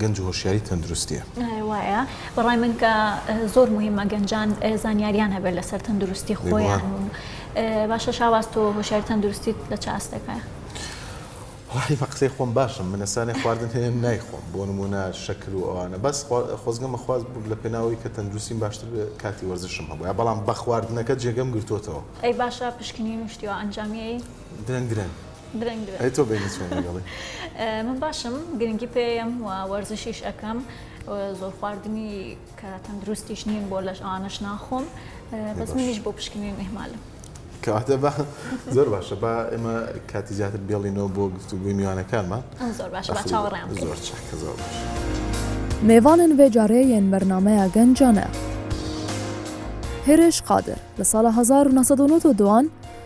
گەنج هۆشیاری تەندروستیە. وایە بەڕای من کە زۆر مهمە گەنجان زانیاریان هەبێت لەسەر تەندروستی خۆیان و باشە شاواز تۆ هۆشیاری تەندروستیت لە چ ئاستێکایە؟ وەڵاهی بە قسەی خۆم باشم من ئێستا خواردن هەیە نایخۆم بۆ نمونە شەکر و ئەوانە بەس خۆزگەم بەخواز بووم لە پێناوەی کە تەندروستیم باشتر کاتی وەرزشم هەبووە بەڵام بە خواردنەکە جێگەم گرتوتەوە ئەی باشە پشکنین و شتیوە ئەنجامیەی درەنگ درەنگ درەنگ درەنگ. ئەی تۆ بینی چۆن لەگەڵی؟ من باشم گرنگی پێیەم و وەرزشیش ئەکەم زۆر خواردنی کە تەندروستیش نیم بۆ لەش ئەوانەش ناخۆم بەس منیش بۆ پشکنین ئیهمالم. کەواتە با زۆر باشە با ئێمە کاتی زیاتر بێڵینەوە بۆ گفتوگۆی میوانەکانمان. زۆر باشە با چاوەڕێیان بکەین. زۆر چاکە زۆر باش. میوانن ڤێ جاڕێ یێن بەرنامەیا گەن جانە. هێرش قادر، لە ساڵە هەزار و نۆ سەد و نۆتۆ دوان،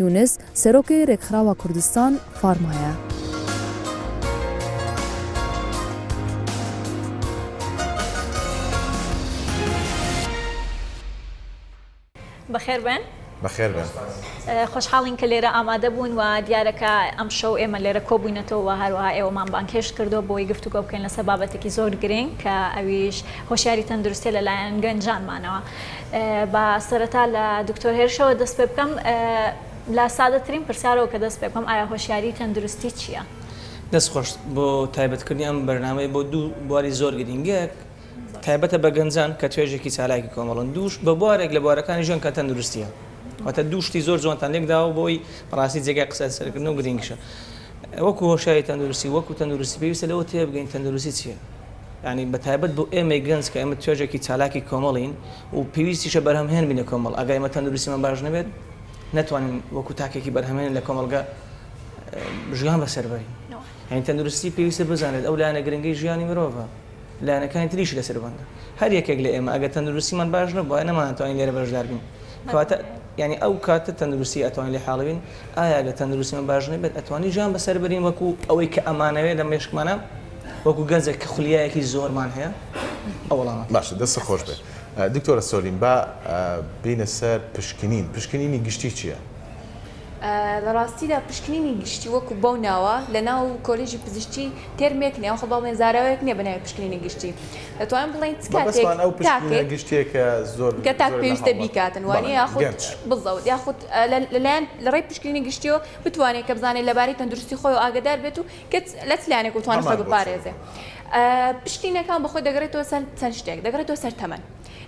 یونس، سەرۆکی رێکخراوە کوردستان فارمایە. بەخێر بێن. بەخێر بێن. خۆشحاڵین کە لێرە ئامادە بوون و دیارە کە ئەمشەو ئێمە لێرە کۆبووینەتەوە و هەروەها ئێوەمان بانگهێشت کردووە بۆی گفتوگۆ بکەین لەسەر بابەتێکی زۆر گرنگ کە ئەویش هۆشیاری تەندروستیە لەلایەن گەنجانمانەوە. با سەرەتا لە دکتۆر هێرشەوە دەست پێ بکەم لە سادەترین پرسیارەوە کە دەست پێ بکەم ئایا هۆشیاری تەندروستی چییە؟ دەست خۆش بۆ تایبەتکردنی ئەم بەرنامەیە بۆ دوو بواری زۆر گرینگ یەک تایبەتە بە گەنجان کە توێژێکی چالاکی کۆمەڵن دووش بە بوارێک لە بوارەکانی ژیان کە تەندروستیە واتە دوو شتی زۆر جوانتان لێک داوە بۆی بەڕاستی جێگای قسە لەسەرکردن و گرینگشە وەکو هۆشیاری تەندروستی وەکو تەندروستی پێویستە لەوە تێبگەین تەندروستی چییە؟ یانی بە تایبەت بۆ ئێمەی گەنج کە ئێمە توێژێکی چالاکی کۆمەڵین و پێویستیشە بەرهەمهێن بین لە کۆمەڵ، ئەگەر ئێمە تەندروستیمان باش نەبێت نەتوانین وەکو تاکێکی بەرهەمهێن لە کۆمەڵگە ژیان بەسەر بەرین. یانی تەندروستی پێویستە بزانێت ئەو لایەنە گرنگەی ژیانی مرۆڤە، لایەنەکانی تریش لەسەر بەندە. هەر یەکێک لە ئێمە ئەگەر تەندروستیمان باش نەبوایە نەمانتوانی لێرە بەشدار بین. کەواتە یانی ئەو کاتە تەندروستی ئەتوانین لێ حاڵی بین، ئایا ئەگەر تەندروستیمان باش نەبێت ئەتوانین ژیان بەسەر بەرین وەکو ئەوەی کە ئەمانەوێت لە مێشکمانا؟ وەکو گەنجێک کە خولیایەکی زۆرمان هەیە ئەو وەڵامە. باشە دەستت خۆش بێت دکتۆرە سۆلین با بینە سەر پشکنین پشکنینی گشتی چیە؟ لە ڕاستیدا پشکنینی گشتی وەکو بەو ناوە لە ناو کۆلیژی پزیشکی تێرمێک نیە خۆ بەڵێن زاراوەیەک نیە بە ناوی پشکنینی گشتی دەتوانین بڵێین چ کاتێک تاکێک کە تاک پێویستە بیکاتن وانە یاخود بزەوت یاخود لەلایەن لە ڕێی پشکنینی گشتیەوە بتوانێت کە بزانێت لەبارەی تەندروستی خۆی و ئاگدار بێت و کچ لە چ لایەنێک بتوانێت خۆی هەمان بۆچوون. بپارێزێ؟ ئە، پشکینەکان بە خۆی دەگەڕێتەوە سەر چەند شتێک، دەگەڕێتەوە سەر تەمەن.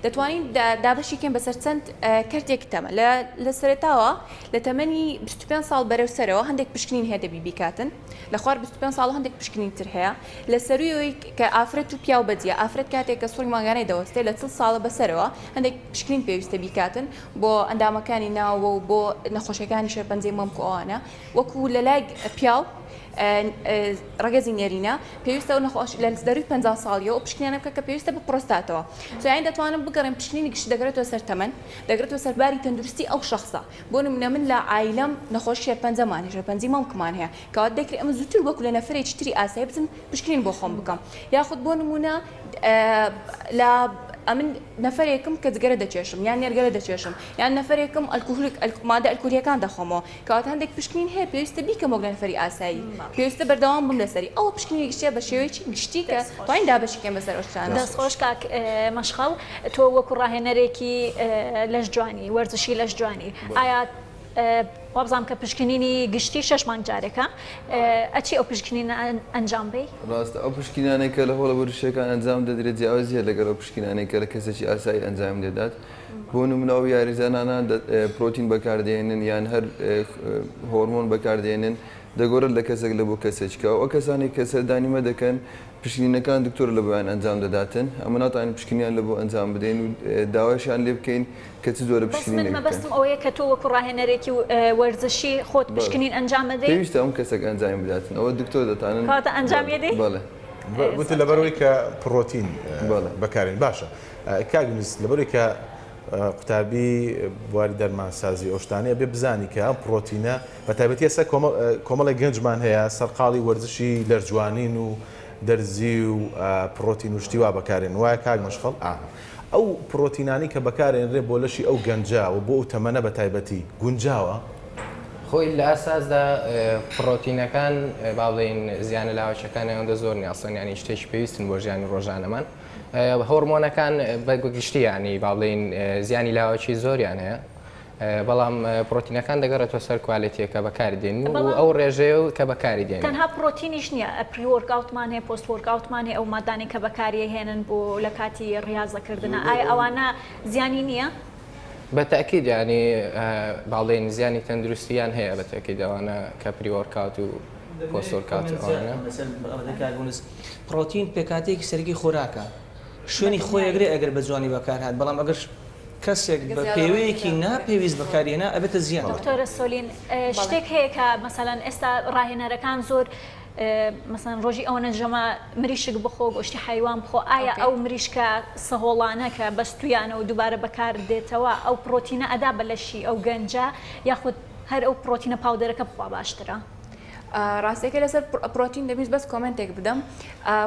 دەتوانین دا دابەشی کەین بەسەر چەند ئە، کەرتێکی تەمەن. لە لە سەرەتاوە لە تەمەنی بیست و پێنج ساڵ بەرەو سەرەوە هەندێک پشکنین هەیە دەبی بیکاتن، لە خوار بیست و پێنج ساڵ هەندێک پشکنین تر هەیە. لە سەرووی کە ئافرەت و پیاو بەجییە، ئافرەت کاتێک کە سوڕی مانگانەی دەوەستێ لە چڵ ساڵە بە سەرەوە هەندێک پشکنین پێویستە بیکاتن بۆ ئەندامەکانی ناوەوە و بۆ نەخۆشیەکانی شێرپەنجەی مەمک و ئەوانە. وەکو لە لای پیاو ڕەگەزی نێرینە پێویستەوە نەخۆش لە دەروی پ ساڵیەوە پشکنیانە بکە کە پێویستە بە پرۆستاتەوە سویان دەتوانم بگەڕێن پشکنینی گشت دەگرێتەوە سەر تەمەن دەگرێتەوە سەرباری تەندروستی ئەو شخصە بۆ نمونە من لە ئایلم نەخۆش شێرپەنجەمان هێژە پەنجی مەمکمان هەیە کەوات دەکرێت ئەمە زووتر وەکو لە نەفرێکی تری ئاسایی بچم پشکنین بۆ خۆم بکەم یاخود بۆ نمونە لە ئەمن نەفرێکم کە جگەرە دەچێشم یان نێرگەلە دەچێشم یان نەفرێکم ئەلکوهولک مادە ئەلکولیەکان دەخۆمەوە کەواتە هەندێک پشکنین هەیە پێویستە بیکەم وەک نەفەری ئاسایی پێویستە بەردەوام بم لەسەری ئەوە پشکنینی گشتیە بە شێوەیەکی گشتی کە توانین دابەشی کەین بەسەر ئەو شتانە. دەست خۆش کاک مەشخەڵ تۆ وەکو ڕاهێنەرێکی لەشجوانی وەرزشی لەشجوانی ئایا وابزانم کە پشکنینی گشتی شەش مانگ جارێکە ئەچی ئەو پشکنینە ئەنجام بەی؟ ڕاستە ئەو پشکنینانەی کە لە هۆڵە وەرزشیەکان ئەنجام دەدرێت جیاوازیە لەگەڵ ئەو پشکنینانەی کە لە کەسێکی ئاسایی ئەنجامی دەدات، بۆ نمونە ئەو یاریزانانە پرۆتین بەکاردێنن یان هەر هۆرمۆن بەکاردێنن دەگۆرن لە کەسێک لە بۆ کەسێک چکە ئەو کەسانی کە سەردانی مە دەکەن پشکنینەکان دکتۆر لە بۆیان ئەنجام دەداتن ئەمە ناتوانین پشکنیان لە بۆ ئەنجام بدەین و داوایشان لێ بکەین کە چ جۆرە پشکنینێک بکەن. بەس من مەبەستم ئەوەیە کە تۆ وەکو ڕاهێنەرێکی وەرزشی خۆت پشکنین ئەنجام مەدەی؟ پێویستە ئەم کەسێک ئەنجامی بداتن ئەوە دکتۆر دەتانن. کەواتە ئەنجامی ئەدەی؟ بەڵێ. وتی لەبەرئەوەی کە پرۆتین بەکارێن باشە. کاک میس لەبەرەوەی کە قوتابی بواری دەرمانسازی ئەوشتانەیە بێ بزانی کە ئەم پرۆتینە بە تایبەتیە سەر کۆمەڵی گەنجمان هەیە سەرقاڵی وەرزشی لەرجوانین و دەرزی و پرۆتین و شتیوا بەکارێن وایە کاک مەشخەڵ ئەو پرۆتینانی کە بەکارێنرێ بۆ لەشی ئەو گەنجە و بۆ ئەو تەمەە بە تایبەتی گونجاوە خۆی لە ئەساسدا پرۆتینەکان با بڵین زیانە لاوەچەکانی ئەوەندە زۆر نیاستن ینی شتێکی پێویستن بۆ ژیانی ڕۆژانەمان هۆڕمۆنەکان بە گشتی یانی با بڵێین زیانی لاوەکی زۆریان هەیە بەڵام پرۆتینەکان دەگەڕێتەوە سەر کوالێتیەکە بەکاری دێن و ئەو ڕێژەیە و کە بەکاری دێن تەنها پرۆتینیش نییە ئەپریۆرگاوتمان هەیە پۆست وەرگاوتمان هەیە ئەو مادانەی کە بەکاریە هێنن بۆ لە کاتی ڕاستەکردنە ئای ئەوانە زیانی نییە؟ بە تاکیید ینی باڵێن زیانی تەندروستیان هەیە بە تاکیدەوانە کە پریۆرکات و پۆسۆر کاتیۆنە. پڕۆتین پێکهاتەیەکی سەرەکی خۆراکە، شوێنی خۆی ئەگرێت ئەگەر بە جوانی بەکارهات، بەڵام ئەگەر کەسێک بە پێوەیەکی ناپێویست بەکاریهێنا ئەبێتە زیان. دکتۆرە سۆلین شتێک هەیە کە مەسەلەن ئێستا ڕاهێنەرەکان زۆر مەسەلەن ڕۆژی ئەوەنە ژەمە مریشک بخۆ گۆشتی حەیوان بخۆ ئایا ئەو مریشکە سەهۆڵانە کە بەستویانە و دووبارە بەکاردێتەوە ئەو پڕۆتینە ئەدا بە لەشی ئەو گەنجە یاخود هەر ئەو پڕۆتینە پاودەرەکە بخوا باشترە. ڕاستەکەی لەسەر پرۆتین دەبیست بەس کۆمنتێک بدەم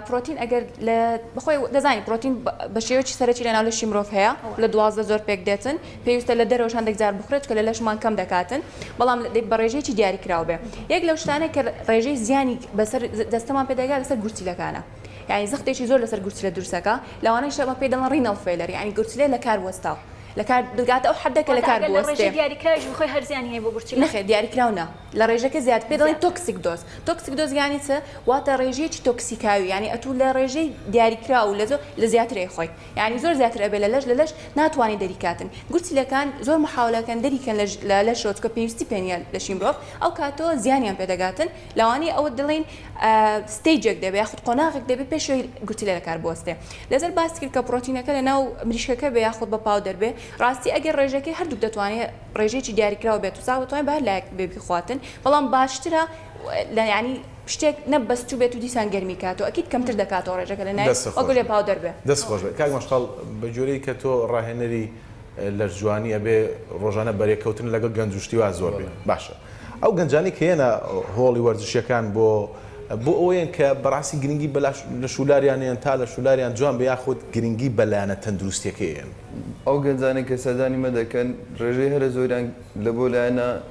پرۆتین ئەگەر لە بخۆی دەزانی پرۆتین بە شێوەی سەرەکی لەناو لەشی مرۆڤ هەیە لە دوازدە زۆر پێک دێتن پێویستە لە دەرەوە هەندێک جار بخرێت کە لە لەشمان کەم دەکاتن بەڵام بە ڕێژەیەکی دیاری کراو بێ یەک لەو شتانە کە ڕێژەی زیانی بەسەر دەستەمان پێدەگات لەسەر گورچیلەکانە یعنی زەختێکی زۆر لەسەر گورچیلە دروستەکە لەوانەیە شەمە پێ دەڵەن ڕینەڵ فێلەر یعنی گورچیلە لە کار وەستاو لەکار بگاتە ئەو حەدە کە واتە لەکار ئەگەر لە ڕێژەی بوەستێ. دیاریکراویش بخۆی هەر زیانی هەیە بۆ گورچیلە؟ نەخێر دیاریکراو نا، لە ڕێژەکە زیاد پێی دەڵێن زیاد. تۆکسیک دۆز، تۆکسیک دۆز یانی چ؟ واتە ڕێژەیەکی تۆکسیکاوی یانی ئەتوو لە ڕێژەی دیاریکراو و لە زۆ لە زیاتر ئەیخۆی یانی زۆر زیاتر ئەبێ لە لەش لە لەش ناتوانێ دەری کاتن گورچیلەکان زۆر محاولە کەن دەری کەن لە لە لەشەوە چونکە پێویستی پێ نیە لەشی مرۆڤ ئەو کاتەوە زیانیان پێ دەگاتن لەوانەیە ئەوە دڵێن ستەیجێک دەبێ یاخود قۆناغێک دەبێ پێشەوەی گوتلێ لە کار بوەستێ لەسەر باس کرد کە پرۆتینەکە لە ناو مریشکەکە بێ یاخود بە پاو دەربێ ڕاستی ئەگەر ڕێژەکەی هەردووک دەتوانێت ڕێژێکی دیاریکراوە بێت و ساغ دەتوانێت بە هەر لایەک بێ بخواتن بەڵام باشترە لە ینی شتێک نەبەستوو بێت و دیسان گەرمی کات و ئەکیت کەمتر دەکاتەوە ڕێژەکە لە نایە وەکو لێ پاو دەربێ دەست خۆش بێت کاک مەشخەڵ بە جۆرەی کە تۆ ڕاهێنەری لەش جوانی ئەبێ ڕۆژانە بەرێکەوتن لەگەڵ گەنج و شتیوا زۆر بێ باشە ئەو گەنجانی کە یەنە هۆڵی وەرزشیەکان بۆ بۆ ئەوەیەن کە بەڕاستی گرنگی بەلاش لە شولاریانیان تا لە شولاریان جوان بە یاخود گرنگی بەلایەنە تەندروستیەکەیەن. ئەو گەنجانەی کە سەردانی مە دەکەن ڕێژەی هەرە زۆریان لە بۆ لایەنە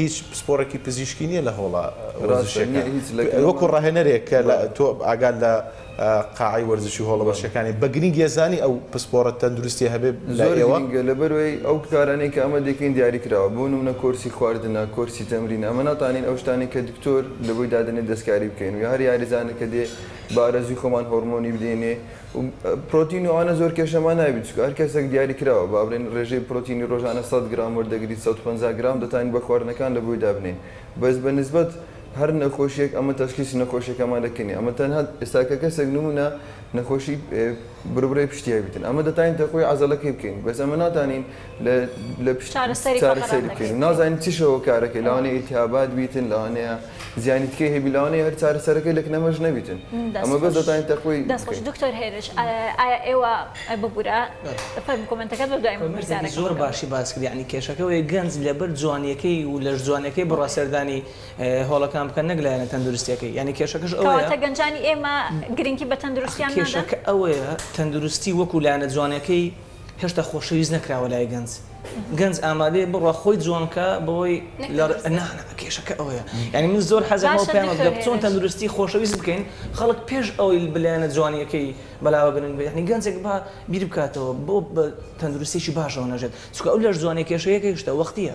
هیچ پسپۆڕێکی پزیشکی نییە لە هۆڵە وەرزشیەکان وەکو ڕاهێنەرێک کە تۆ ئاگال لە قاعی وەرزشی هۆڵە وەرشەکانی بە گرنگ یێزانی ئەو پسپۆڕە تەندروستی هەبێ لەوەگە لە بەرەوەی ئەو کارانەی کە ئەمە دەکەین دیاری کراوە بۆ نمونە کۆرسی خواردنە کۆرسی تەمرین ئەمە ناتانین ئەو شتانی کە دکتۆر لەوەی دادنێ دەستکاری بکەین و هەر یاریزانەکە دێ بارەزوی خۆمان هۆرمۆنی بدەینێ پرۆتین و ئەوانە زۆر کێشەمان نابێت چونکە هەر کەسێک دیاری کراوە با بڵێن ڕێژەی پرۆتینی ڕۆژانە سەد گرام وەردەگریت سەد و پەنجا گرام دەتوانین بە خواردنەکان لە بۆی دابنێین بەس بە نسبەت هەر نەخۆشیەک ئەمە تەشخیسی نەخۆشیەکەمان دەکەین نیە ئەمە تەنها ئێستا کە کەسێک نمونە نەخۆشی بربڕەی پشتی هەبیتن ئەمە دەتوانین تەقوی عەزەڵەکەی بکەین بەس ئەمە ناتوانین چارەسەری بکەین و نازانین چ شەوە کارەکەی لاوانەیە ئیلتیهابات بیتن لاوانەیە زیانی تکەی هەبی لاوانەیە هەر چارەسەرەکەی لە کنەمەش نەبیتن ئەمە بەس دەتوانین تەخوی دەستخۆش دکتۆر هێرش ئایا ئێوە ببوورە فەرم کۆمنتەکەت بە دوای پرسیارەکە زۆر باشی باس کرد یعنی کێشەکە ئەوەیە گەنج لەبەر جوانیەکەی و لەش جوانەکەی بڕا سەردانی هۆڵەکان بکەن نەک لایەنە تەندروستیەکەی یعنی کێشەکەش ئەوەیە کەواتە گەنجانی ئێمە گرنگی بە تەندروستیان نادەن کێشەکە ئەوەیە تەندروستی وەکو لایەنە جوانەکەی هێشتا خۆشەویست نەکراوە لای گەنج گەنج ئامادەیە بڕوا خۆی جوان کا بەوەی کێشەکە ئەوەیە یعنی من زۆر حەزەوە پێیان چۆن تەندروستی خۆشەویست بکەین خەڵک پێش ئەوەی بلایەنە جوانیەکەی بەلاوە بنن بێنی گەنجێک بە بیر بکاتەوە بۆ تەندروستێکی باشەوە نەژێت چکە ئەو لەش جوانێک کێشەیەکە هشتا وەختە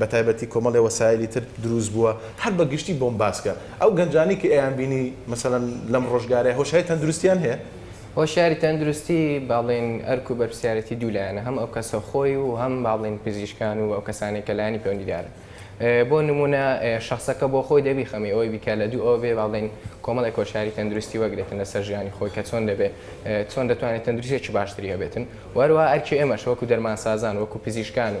بەتایبەتی کۆمەڵێ وەسایلی تر دروست بووە هەر بە گشتی بۆمباسکە ئەو گەنجانەی کە ئەیان بینی مەسەلەن لەم ڕۆژگارەی هۆشای تەندروستیان هەیە؟ هۆشیاری تەندروستی با بڵێین ئەرک و بەرپرسیارێتی دوو لایەنە هەم ئەو کەسە خۆی و هەم با بڵێین پزیشکان و ئەو کەسانەی کە لایەنی پەیوەندیدارن بۆ نموونە شەخسەکە بۆ خۆی دەبی خەمی ئەوەی بیکا لە دوو ئەوە بێ با بڵێین کۆمەڵێک هۆشیاری تەندروستی وەگرێتن لەسەر ژیانی خۆی کە چۆن دەبێ چۆن دەتوانێت تەندروستێکی باشتری هەبێتن و هەروەها ئەرکی ئێمەشە وەکو دەرمانسازان وەکو پزیشکان و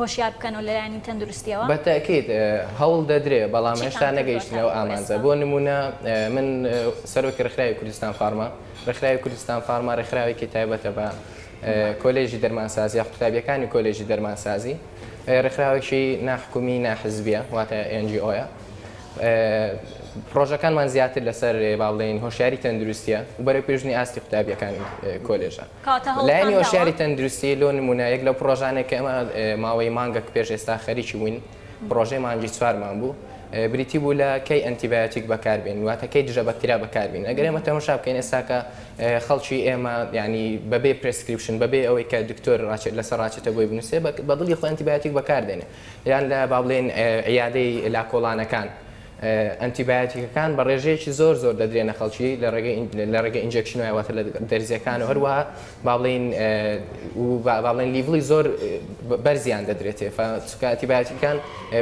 هۆشیار بکەن و لەلایەنی تەندروستیەوە. بە تەئکید هەوڵ دەدرێ بەڵام هێشتا نەگەیشتینە ئەو ئامانجە بۆ نموونە من سەرۆکی ڕێکخراوی کوردستان فارما ڕێکخراوی کوردستان فارما ڕێکخراوێکی تایبەتە بە کۆلێژی دەرمانسازی یاخود قوتابیەکانی کۆلێژی دەرمانسازی ڕێکخراوێکی ناحکومی ناحزبیە واتە ئێن جی ئۆیە پڕۆژەکانمان زیاتر لەسەر با بڵێین هۆشیاری تەندروستیە و بەرەو پێشنی ئاستی قوتابیەکانی کۆلێژە کاتە هەوڵتان لایەنی داوە؟ هۆشیاری تەندروستی لۆ نموونە یەک لەو پڕۆژانەی کە ئێمە ماوەی مانگەک پێش ئێستا خەریکی بووین پڕۆژەی مانگی چوارمان بوو بریتی بوو لە کەی ئەنتیبایۆتیک بەکاربێنین واتە کەی دژە بەکتریا بەکاربین ئەگەر ئێمە تەماشا بکەین ئێستا کە خەڵکی ئێمە یعنی بەبێ پرسکریپشن بەبێ ئەوەی کە دکتۆر ڕاچێت لەسەر ڕاچێتە بۆی بنووسێ بە دڵی خۆی ئەنتیبایۆتیک بەکاردێنێ یان لە با بڵێین عیادەی لاکۆڵانەکان ئەنتیبایۆتیکەکان بە ڕێژەیەکی زۆر زۆر دەدرێنە خەڵکی لە ڕێگەی ئینجێکشن و واتە لە دەرزیەکان و هەروەها با بڵێین با بڵێن لیڤڵی زۆر بەرزیان دەدرێتێ چکە ئەنتیبایۆتیکەکان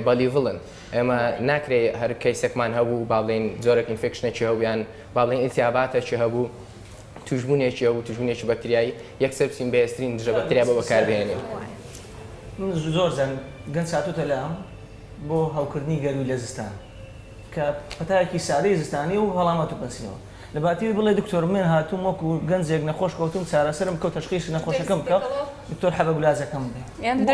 بە لیڤڵن ئێمە ناکرێ هەر کەیسێکمان هەبوو با بڵێین جۆرەک ئینفێکشنێکی هەویان با بڵێن ئیلتیاباتەکی هەبوو توژبوونێکی هەبوو توژبوونێکی بەکتریایی یەکسەر بچین بەهێزترین دژە بەکتریا بە بەکاربهێنین من زۆر زەن گەن ساتوتە لام بۆ هەوکردنی گەرووی لە زستان کە پەتایەکی سادەی زستانیە و هەڵامەت و پەنسیلەوە لەباتیوی بڵێ دکتۆر من هاتووم وەکو گەنجێک نەخۆش کەوتووم چارەسەرم بکە و تەشخیسی نەخۆشەکەم بکە دکتۆر حەبە گولازەکەم بدە بۆ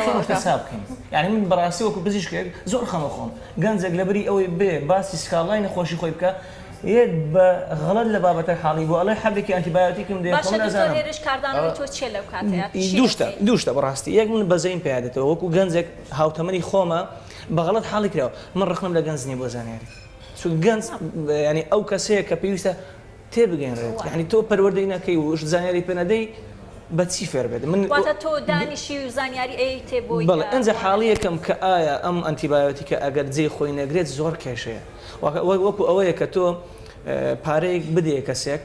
ئەو شتە چا بکەین یانی من بەڕاستی وەکو پزیشکێک زۆر خەمە خۆم گەنجێک لەبری ئەوەی بێ باسی سکاڵای نەخۆشی خۆی بکا یەت بە غەڵەت لە بابەتەک حاڵی بوو ئەڵێ حەبێکی ئەنتیبایۆتیکم دێ خۆم نازانم باشە دکتۆر هێرش کاردانەوەی تۆ چیە لەو کاتەیا باشە دکتۆر هێرش کاردانەوەی تۆ چیە لەو کاتەیا دوو شتە دوو شتە بەڕاستی یەک من بەزەیم پیادێتەوە وەکو گەنجێک هاوتەمەنی خۆمە بەغەڵەت حاڵی کراوە من ڕەخنەم لە گەنج نیە بۆ زانیاری چونکە گەنج یانی ئەو کەسەیە کە پێویستە تێبگەنرێت یانی تۆ پەروەردەی نەکەی و زانیاری پێ نەدەی بەچی فێر بێت من واتە تۆ دانیشی و زانیاری ئەیەیتێ بۆی بەڵێ ئەنجا حاڵیەکەم کە ئایا ئەم ئەنتیبایۆتیکە ئەگەر جێی خۆی نەگرێت زۆر کێشەیە وەکو ئەوەیە کە تۆ پارەیەک بدەیە کەسێک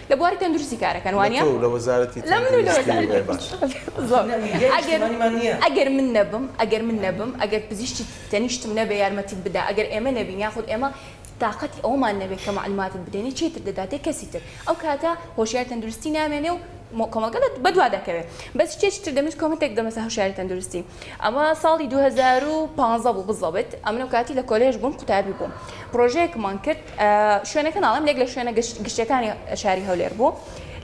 لە بواری تەندروستی کارەکەن وانە ئەگەر من نەبم ئەگەر من نەبم ئەگەر پزیشتی تەنیشتم نەبێ یارمەتیت بدا ئەگەر ئێمە نەبین یاخود ئێمە تااقەتی ئەومان نەبێت کە معلوماتت بدەنی چیتر دەداتێ کەسی تر ئەو کاتە هۆشیار تەندروستی نامێنێ و کۆمەڵگەت بەدوا دەکەوێت بەس شتێکی تر دەمویست کۆمنتێک دەمەسە هەشاری تەندروستی ئەمە ساڵی دوو هەزار و پازدە بوو بزەوت ئەمن و کاتی لە کۆلێژ بووم قوتابی بووم پرۆژەیەکمان کرد شوێنەکە ناڵم لێک لە شوێنە گشتەکانی شاری هەولێر بوو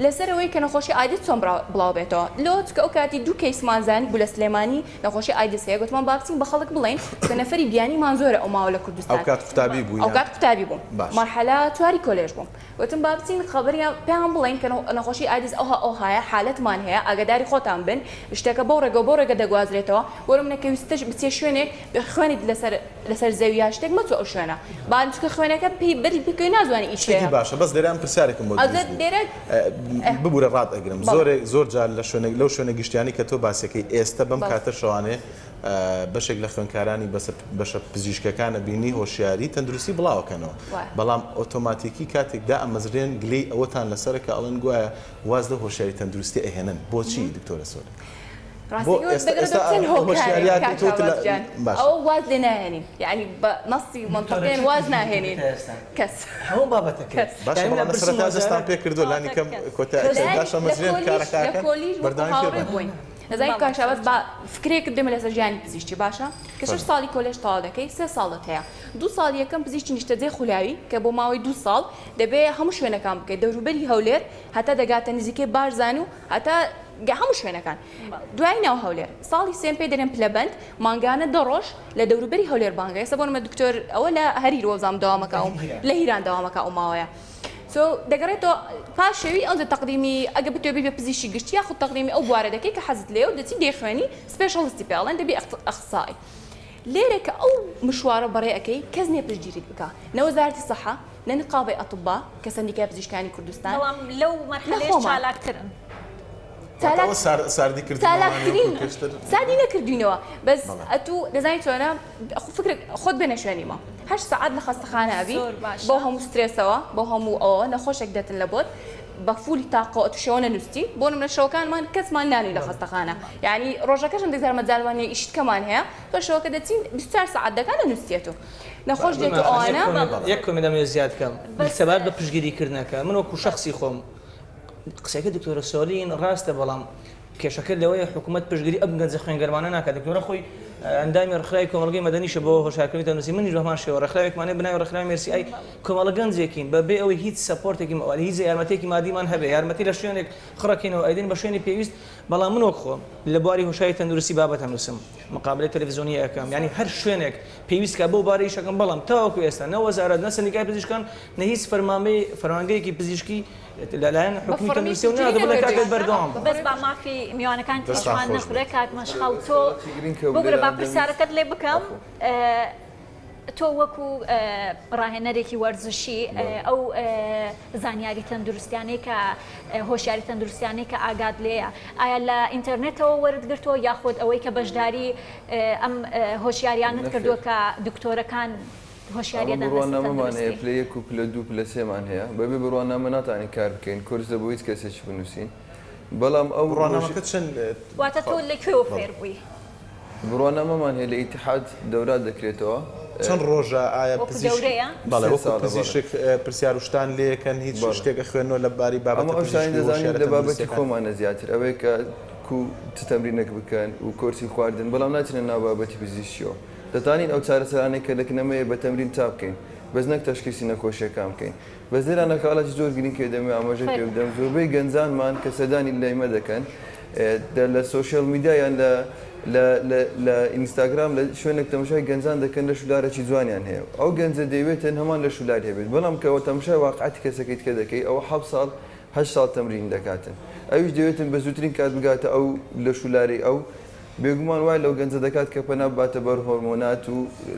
لەسەرەوەی کە نەخۆشی ئایدت چۆن بڵاو بێتەوە لۆت کە ئەو کاتی دوو کەیسمانزانی بوو لە سلێمانی نەخۆشی ئایدس هەیە گوتمان باکسین بە خەڵک بڵین کە نەفری بیانیمان زۆرە ئەو ماوە لە کوردستان ئەو کات قوتابی بوو ئەو کات قوتابی بووم مەرحەلا چواری کۆلێژ بووم وتم با بچین خەبەریان پێیان بڵێین کە نەخۆشی ئایدز ئەوها ئەوهایە حالەتمان هەیە ئاگاداری خۆتان بن شتەکە بەو ڕێگەو بەو ڕێگە دەگوازرێتەوە بۆ منە کە ویستت بچیە شوێنێک خوێنت لەسەر لەسەر زەوی یا شتێک مەچۆ ئەو شوێنە با چونکە خوێنەکە پێی بەری بکەوی نازانی ئیش هەیە. شتێکی باشە بەس لێرە من پرسیارێکم بۆ دروست بوو ببورە ڕات ئەگرم زۆرێک زۆر جار لە شوێنێک لەو شوێنە گشتیانەی کە تۆ باسیەکەی ئێستە بەم کاتە شەوانێ بەشێک لە خوێندکارانی بەسە بەشە پزیشکەکانە بینی هۆشیاری تەندروستی بڵاوەکەنەوە بەڵام ئۆتۆماتیکی کاتێک دا ئەمەزرێن گلەی ئەوەتان لەسەرە کە ئەڵەن گوایە واز لە هۆشیاری تەندروستی ئەهێنن بۆچی دکتۆرە سۆر بۆ واز لێ ناهێنین یعنی بە نەستی منتەقێن واز ناهێنین کەس هەموو بابەتە باشستان پێ کردو لانی کەم کۆتاشەمەزرێن کارەکە بەردانی بووین دەزانی کاک شاباز با فکرەیەکت بێمە لەسەر ژیانی پزیشکی باشە کە شەش ساڵی کۆلێژ تەواو دەکەی سێ ساڵت هەیە دوو ساڵ یەکەم پزیشکی نیشتەجێ خولاوی کە بۆ ماوەی دوو ساڵ دەبێ هەموو شوێنەکان بکەیت دەوروبەری هەولێر هەتا دەگاتە نزیکەی بارزان و هەتا گە هەموو شوێنەکان دوای ناو هەولێر ساڵی سێم پێ دەرێن پلەبەند مانگانە دە ڕۆژ لە دەوروبەری هەولێر بانگە ئێستا بۆنمە دکتۆر ئەوە لە هەریر وەزام داوامەکەوم لە هیران داوامەکە ئەو ماوەیە سو دەگەڕێتەوە پاش شەوی ئەوجە تەقدیمی ئەگەر بتوێ بیت بە پزیشکی گشتی یاخود تەقدیمی ئەو بوارە دەکەی کە حەزت لێیە و دەچی دەیخوێنی سپێشڵستی پێ ئەڵێن دەبی ئەخسسائی لێرە کە ئەو مشوارە بەڕێ ئەکەی کەس نیە پشتگیریت بکا نە وەزارەتی سەحە نە نقابەی ئەتبا کە سەندیکای پزیشکانی کوردستان بەڵام لەو مەرحەلەیەش چالاکترن چالاک ساردی کردنەوە چالاکترین ساردی نەکردوینەوە بەس ئەتوو دەزانی چۆنە فکرت خۆت بێنە شوێنی مە هەشت سعات لە خەستەخانە ئەبی بۆ هەموو سترێسەوە بۆ هەموو ئەوە نەخۆشێک دێتن لە بۆت بە فولی تاقۆ توشەوە نووسی بۆ منە شەوەکانمان کەسمان نانی لە خەستەخانە یعنی ڕۆژەکەشم دەزارمە جالوانە ئیشتکەمان هەیە بە شەوەکە دەچین 24 سعات دەکات لە نووسێت و نەخۆش دێت و ئەوانە یەک کۆمێنت لەمێ زیاد کەم سەبارەت بە پشتگیریکردنەکە من وەکو شەخسی خۆم قسەکە دکتۆرە سۆلین ڕاستە بەڵام کێشەکە لەوەیە حکومەت پشتگری ئەم گەنجە خوێنگەروانە ناکات، دکتۆرە خۆی ئەندامی ڕێکخراوی کۆمەڵگەی مەدەنیشە بۆ هۆشیارکردنی تەندروستی منیش بەهەمان شێوە ڕێکخراوێکمان هەیە بەناوی ڕێکخراوی مێرسی ئای کۆمەڵە گەنجێکین بە بێ ئەوەی هیچ سەپۆرتێکی مالی هیچ یارمەتیەکی مادیمان هەبێ یارمەتی لە شوێنێک خڕەکەینەوە ئەیدەین بە شوێنی پێویست بەڵام من وەک خۆم لە بواری هۆشیاری تەندروستی بابەت ئەنوسم مقابلەی تەلەفزیۆنی ئەکەم یانی هەر شوێنێک پێویست کا بەو بارە ئیشەکەم بەڵام تاوەکو ئێستا نە وەزارەت نە سەندیکای پزیشکان نە هیچ فەرمانبەی فەرمانگەیەکی پزیشکی لەلایەن حکومی کە نوسیەو نا دەبڵێ کاکە بەردەوام بە بەس با مافی میوانەکان تێچوان نەخورێ کاک مەشخەڵ تۆ ببورە با پرسیارەکەت لێ بکەم تۆ وەکو ڕاهێنەرێکی وەرزشی ئەو زانیاری تەندروستیانەی کە هۆشیاری تەندروستیانەی کە ئاگات لێە ئایا لە ئینتەرنێتەوە وەرتگرتووە یاخود ئەوەی کە بەشداری ئەم هۆشیاریانت کردووە کە دکتۆرەکان هۆشیاریە دان بە سیستەم دروستی. ئەمە بڕوانامەمانە هەیە پلە یەک و پلە دوو پلە سێ مان هەیە بەبێ بڕوانامە ناتوانین کار بکەین کۆرس دە بۆ هیچ کەسێکی بنوسین بەڵام ئەو بڕوانامەکە چەند واتە تۆ لە کوێوە فێر بووی؟ بڕوانامەمان هەیە لە ئیتحاد دەورات دەکرێتەوە. چەند ڕۆژە ئایا پزیشک بەڵێ وەکو پزیشک پرسیار و شتان لێ ئەکەن هیچ شتێک ئەخوێننەوە لە باری بابەتە پزیشکی هۆشیارە تەندروستیەکان؟ ئەمە ئەو شتانەی دەزانین لە بابەتی خۆمانە زیاتر ئەوەیە کە کو چ تەمرینێک بکەن و کۆرسی خواردن بەڵام ناچینە ناو بابەتی پزیشکیەوە. دەتانین ئەو چارەسەرانەی کە دەکنەمەوێ بە تەمرین چا بکەین بەس نەک تەشخیسی نەخۆشیەکان بکەین بەس لێرا نەکاڵاجی زۆر گرینگ کە دەمەوێ ئاماژەی پێ بدەم زۆربەی گەنجانمان کە سەردانی لایمە دەکەن دە لە سۆشیال میدیا یان لە لە لە لە ئینستاگرام لە شوێنێک تەمەشای گەنجان دەکەن لەش و لارەکی جوانیان هەیە و ئەو گەنجە دەیەوێت تەن هەمان لەش و لار هەبێت بەڵام کە وە تەمشای واقعەتی کەسەکەی تکە دەکەی ئەوە حەفت ساڵ هەشت ساڵ تەمرین دەکاتن ئەویش دەوێتن بە زووترین کات بگاتە ئەو لەش و لارەی ئەو بێگومان وای لەو گەنجە دەکات کە پەنا بباتە بەر هۆرمۆنات و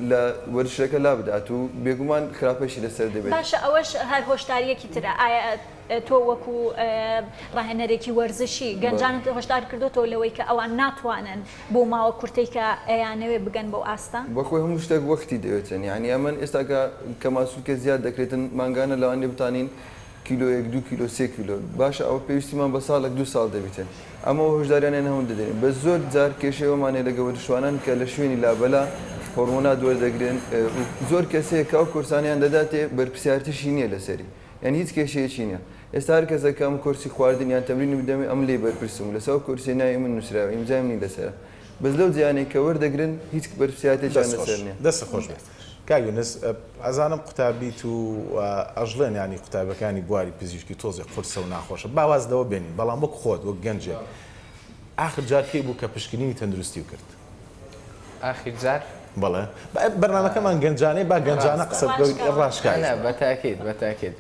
لە وەرزشەکە لابدات و بێگومان خراپەیشی لەسەر دەبێت. باشە ئەوەش هەر هۆشدارییەکی ترە، ئایا تۆ وەکو ڕاهێنەرێکی وەرزشی گەنجانت هۆشدار کردۆتەوە لەوەی کە ئەوان ناتوانن بەو ماوە کورتەی کە ئەیانەوێت بگەن بەو ئاستە؟ بەخۆی هەموو شتێک وەختی دەوێتن یانی ئەمن ئێستا کە کەماسولکە زیاد دەکرێتن مانگانە لەوانیە بتانین کیلۆیەک دوو کیلۆ سێ کیلۆ باشە ئەوە پێویستیمان بە ساڵێک دوو ساڵ دەبیتێ ئەمەوە هۆشداریانیان هەون دەدەین بە زۆر جار کێشەی ئەومانێ لە گەوەرشوانان کە لە شوێنی لابەلا هۆرمۆنات وەردەگرن زۆر کەسەیە کاو کورسانیان دەداتێ بەرپسیارتیشی نییە لەسەری یعنی هیچ کێشەیەکی نییە ئێستا هەر کەسەکەم کورسی خواردن یان تەمرینی بدەمێ ئەم لێ بەرپرسم لەسا و کورسێ ناوی من نووسراوە ئیمزایم نی لەسەرە بەس لەو جیانەی کە وەردەگرن هیچ بەرپسیاتێکیان لەسەر نییە. کاک یونس ئەزانم قوتابیت و ئەژڵێن یانی قوتابیەکانی بواری پزیشکی تۆزێ قورسە و ناخۆشە با واز لەوە بێنین بەڵام وەک خۆت وەک گەنجێک ئاخر جار کەی بوو کە پشکنینی تەندروستی و کرد؟ ئاخیر جار بەڵێ بەرنامەکەمان گەنجانەی با گەنجانە قسە بکەوت ڕاشکاوی بە تاکیت بە تاکیت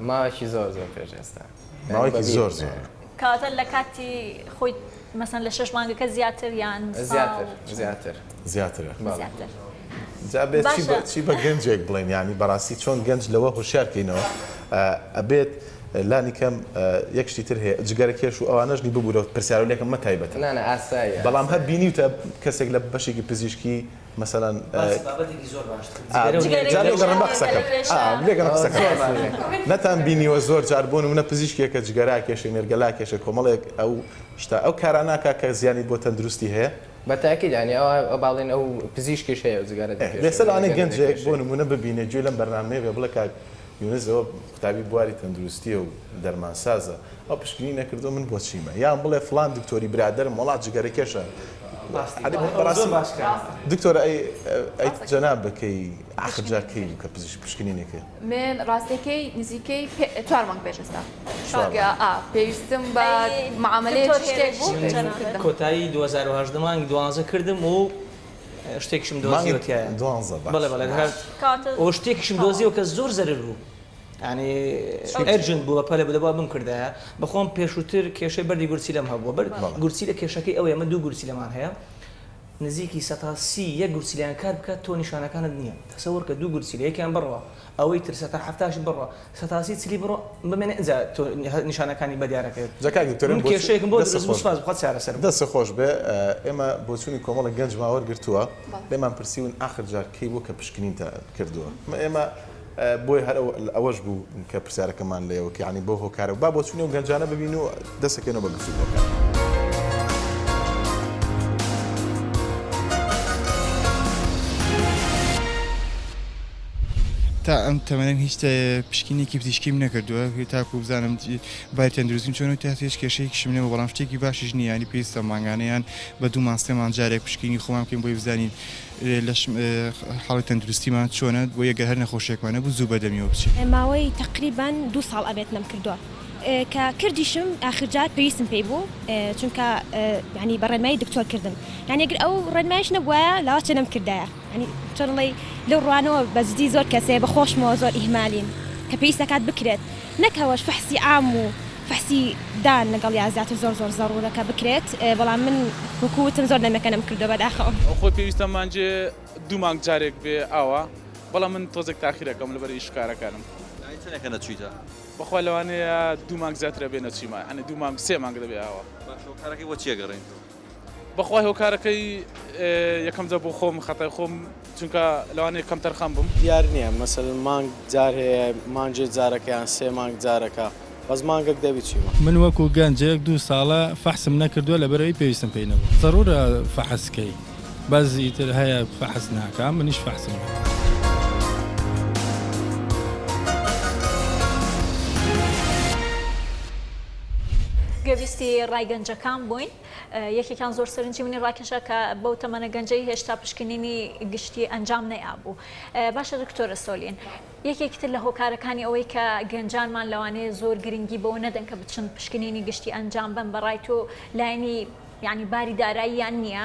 ماوەکی زۆر زۆر پێش ئێستا ماوەیەکی زۆر زۆرە. کاتە لە کاتی خۆی مەسەن لە شەش مانگەکە زیاتر یان زیاتر زیاتر زیاترە زیاتر جا بێت چی بە چی بە گەنجێک بڵێن یانی بەڕاستی چۆن گەنج لەوە هوشیار کەینەوە ئەبێت لانی کەم یەک شتی تر هەیە جگەرە کێش و ئەوانەش نی ببوورەوە پرسیارو لێکم مە تایبەتە نانە ئاسایە بەڵام هەر بینیوتە کەسێک لە بەشێکی پزیشکی مەسەلەن باسی بابەتێکی زۆر باشتر جگەرە و جگەرە و جا لێ گەڕێ بە قسەکەم جگەرە و کێشە ئا لێ گەڕێ قسەکەم زۆر باشە ئەفەرموو. نەتان بینیوە زۆر جار بۆ نمونە پزیشکێکە جگەرا کێشەی نێرگەلا کێشەی کۆمەڵێک ئەو شتە ئەو کارانە کە کە زیانی بۆ تەندروستی هەیە؟ بە تاکید یانی ئەوا ئەوا باڵێن ئەو پزیشکیش هەیە جگەرە ئێ دەکێشێ لێسە لەوانەیە گەنجێک بۆ نمونە ببینێ گوێ لەم بەرنامەیە بێ بڵێ کاک یونس ئەوە قوتابی بواری تەندروستیە و دەرمانسازە ئەو پشکنی نەکردوە من بۆچیمە یان بڵێ فڵان دکتۆری برادەرم وەڵا جگەرەکێشە دکتۆرە ئەی جەناب بەکەی ئاخر جا کەی بوو کە پزیشک پشکنی نەکرد من ڕاستەکەی نزیکەی چوار مانگ پێش ئێستا پێویستم بە معاملەیە کۆتایی 2010 مانگی دوانزە کردم و شتێکیشم دۆزیوە تیایە. مانگی دوانزە بەخش. بەڵێ بەڵێ هەر کاتە ئۆ شتێکیشم تەواو. دۆزیوە کە زۆر زەرەر بوو یانی چی بوو؟ ئەرجەند بوو بەپەلە بوو دەبوا بمکردایە بەخۆم پێشووتر کێشەی بەردی گورچیلەم هەبووە بەر بەڵێ. گورچیلە کێشەکەی ئەوەیە ئەمە دوو گورچیلەمان هەیە نزیکی سەتا سی یەک گورچیلەیان کار بکات تۆ نیشانەکانت نییە تەسەوەر کە دوو گورچیلە یەکیان بڕە ئەوەی تر سەتا حەفتاشی بڕە سەتاسی چلی بڕۆ بمێنە ئینجا تۆ نیشانەکانی بە دیار ئەکەوێت جا کاک دکتۆر من کێشەیەکم بۆ دەست خۆش سوپاس بخوات چارەسەر بکە. دەست خۆش بێ ئێمە بۆچونی کۆمەڵێک گەنجمان وەرگرتووە لێمان پرسیون ئاخر جار کەی بووە کە پشکنینتە کردووە ئێمە بۆیە هەر ئەوەش بوو کە پرسیارەکەمان لە ئێوە کرد یانی بۆ هۆکارە با بۆچونی ئەو گەنجانە ببین و دەست ئەکەوینەوە بە گفتوگۆکە. تا ئەم تەمەنەم هیچ پشکینێکی پزیشکیم نەکردووە تاکو بزانم بای تەندروستیم چۆن و تاات هێش کێشەیەکیشم نیەوە بەڵام شتێکی باشیش نیە ینی پێویستە مانگانەیان بە دوو ماسێمان جارێک پشکینی خۆمان بکەین بۆی بزانین لەش حاڵی تەندروستیمان چۆنە بۆ یەگە هەر نەخۆشێکمانە بوو زوو بەدەمیەوە بچین. ماوەی تەقریبەن دوو ساڵ ئەبێت نەمکردووە کە کردیشم ئاخر جار پێویستم پێی بوو چونکە یانی بە ڕێنمایی دکتۆر کردم یانی گەر ئەو ڕێنمایش نەبوایە لاوەچێ نەمکردایە. یانی چۆنڵێی لەو ڕوانەوە بەجدی زۆر کەسێ بە خۆشمەوە زۆر ئیهمالین کە پێویست دەکات بکرێت نەک ئەوەش فەحسی عام و فەحسی دان لەگەڵیا زیاتر زۆر زۆر زەڕوورە کە بکرێت بەڵام من وەکو وتم زۆر دەمێکە نەمکردوە بەداخەوە. خۆی پێویستە مانگێ دوو مانگ جارێک بێ ئاوا بەڵام من تۆزێک تاخیر ئەکەم لەبەر ئیش و کارەکانم. یانی چەنێکە نەچویتە؟ بەخوا لەوانەیە دوو مانگ زیاتر ئەبێ نەچیمە یانی دوو مانگ سێ مانگ دەبێ ئاوا. باشە وە کارەکەی بۆ چیە گەڕێنیتەوە؟ بەخوای هۆکارەکەی یەکەم جار بۆ خۆم خەتای خۆم چونکە لەوانەیە کەم تەرخەم بم دیار نییە مەسەل مانگ جار هەیە مانجێ جارەکەیان سێ مانگ جارەکە بەس مانگەک دەبی چیمە. من وەکو گەنجێک دوو ساڵە فەحسم نەکردوە لەبەرئەوەی پێویستم پێی نەبوو زەرورە فەحس کەی بەس ئیتر هەیە فەحس ناکا منیش فەحسم نەکرد. گوێبیستی ڕای گەنجەکان بووین یەکێکان زۆر سەرنجی منی ڕاکێشا کە بەو تەمەنە گەنجەی هێشتا پشکنینی گشتی ئەنجام نەیابوو باشە دکتۆرە سۆلین یەکێکتر لە هۆکارەکانی ئەوەی کە گەنجانمان لەوانەیە زۆر گرنگی بەوە نەدەن کە بچن پشکنینی گشتی ئەنجام بن بەڕای تۆ لایەنی یعنی باری داراییان نییە؟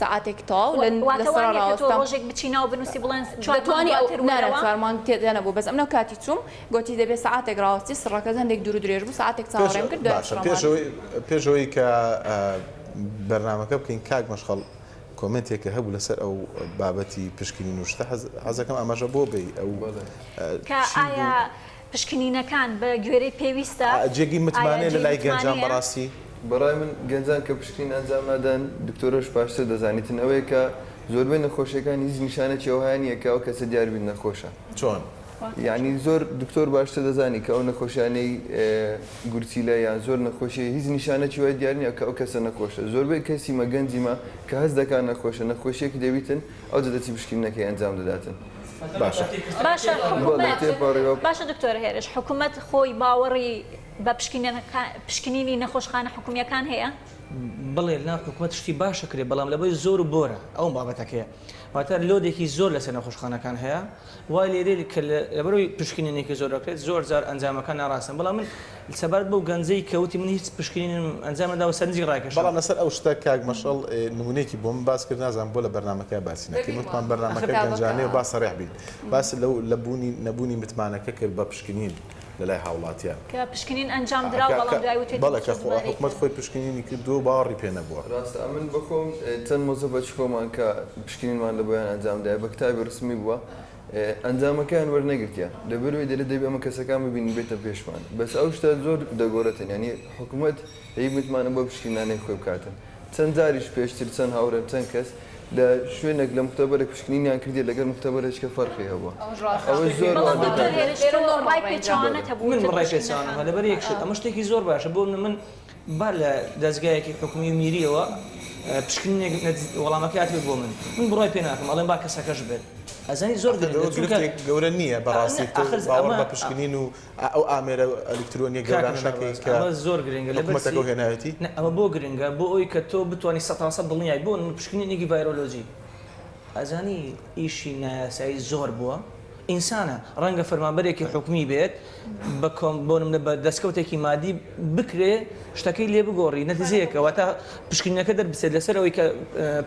سەعاتێک تەواو لە واتە وایە کە تۆ ڕۆژێک بچی ناو بنووسی بڵێن چوار مانگ دواتر وەرەوە؟ نەرە چوار مانگ تێدا نەبوو بەس ئەمنۆ کاتی چووم گۆتی دەبێ سەعاتێک ڕاوەستی سڕەکەت هەندێک دوور و درێژ بوو سەعاتێک چاوەڕێم کرد دوای باشە پێش ئەوەی پێش ئەوەی کە بەرنامەکە بکەین کاک مەشخەڵ کۆمێنتێکە هەبوو لەسەر ئەو بابەتی پشکنین و شتە حەز حەزەکەم ئاماژە بۆ بەی ئەو کە چی بوو؟ ئایا پشکنینەکان بە گوێرەی پێویستە؟ جێگەی متمانەیە لە لای گەنجان بەڕاستی؟ بەڕای من گەنجان کە پشکنین ئەنجام نادەن، دکتۆرەش باشتر دەزانیتن، ئەوەیە کە زۆربەی نەخۆشیەکان هیچ نیشانەکی ئەوها نیە کە ئەو کەسە دیار بیت نەخۆشە. چۆن؟ یانی زۆر دکتۆر باشتر دەزانی کە ئەو نەخۆشیانەی گورچیلە یان زۆر نەخۆشیە هیچ نیشانەکی وای دیار نیە کە ئەو کەسە نەخۆشە. زۆربەی کەسی مە گەنجی مە کە هەست دەکا نەخۆشە، نەخۆشیەکی دەبیتن ئەوجە دەچی پشکنینەکەی ئەنجام دەداتن. باشە باشە حکومەت باشە دکتۆر هێرش حکومەت خۆی باوەڕی بە پشکنینی نەخۆشخانە حکومیەکان هەیە؟ بڵێ نا حکومەت شتی باشە کرێ بەڵام لەبەی زۆر و بۆرە ئەو بابەتەکەیە واتە لۆدێکی زۆر لەسەر نەخۆشخانەکان هەیە وای لێرێ کە لەبەرەوەی پشکنینێکی زۆر دەکرێت زۆر زار ئەنجامەکان ناڕاستن بەڵام من سەبارەت بەو گەنجەی کە وتی من هیچ پشکنینم ئەنجام نەداوە سەرنجی ڕاکێشام. بەڵام لەسەر ئەو شتە کاک مەشەڵ نمونەیەکی بۆمن باس کرد نازانم بۆ لە بەرنامەکە باسی نەکرد وتمان بەرنامەکە گەنجانەیە با سەڕیح بین باس لەو لە بوونی نەبوونی متمانەکە کرد بە پشکنین لەلای هاوڵاتیان کە پشکنین ئەنجام درا و بەڵام دوای وتێتی بەڵێ کە خۆ حکومەت خۆی پشکنینی کردووە باوەڕی پێ نەبووە. ڕاستە ئەمن بەخۆم چەند مۆزەفەر شکۆمان کە پشکنینمان لەبۆیان ئەنجام دایە بە کتابی ڕسمی بووە ئەنجامەکەیان وەرنەگرتیان لەبەرئەوەی دەلێت دەبێت ئەمە کەسەکان ببینن بێتە پێشمان بەس ئەو شتە زۆر دەگۆرێتن یانی حکومەت هەی متمانە بۆ پشکی نانەی خۆی بکاتن چەند جاریش پێشتر چەند هاورێم چەند کەس لە شوێنێک لە مختبرێک پشکنینیان کردیە لەگەل مختبرێکە فەرقی هەبوە ئەوەش زۆر وا دەکات. من ڕای پێچەوانە هەبوو لەبەر یەک شت ئەمە شتێکی زۆر باشە بۆ من با لە دەزگایەکی حکومی و میریەوە پشکنینێک نەت وەڵامەکەی هاتبێت بۆ من من بڕای پێ ناکەم ئەڵێم با کەسەکەش بێت ئەزانی زۆر گرنگە ئەخر چونکە گرفتێک گەورە نییە بەڕاستی ئەخر تۆ باوەڕ ئەمە- بە پشکنین و ئەو ئامێرە ئەلیکترۆنیە کاک گەورانە مەلا نەکەی بەڕێز، کە ئەمە زۆر گرنگە لەبەر حکومەتەکە چی؟ هێنایەتی نە، ئەمە بۆ گرنگە بۆ ئەوی کە تۆ بتوانی سەتانسەد دڵنیای بۆ پشکنینێکی ڤایرۆلۆجی ئەزانی ئیشی نایاسایی زۆر بووە ئینسانە ڕەنگە فەرمانبەرێکی حکومی بێت بە کۆم بۆنمنە بە دەستکەوتێکی مادی بکرێ شتەکەی لێ بگۆڕی نەتیزەیەکە واتە پشکنینەکە دەربچێت لەسەر ئەوەی کە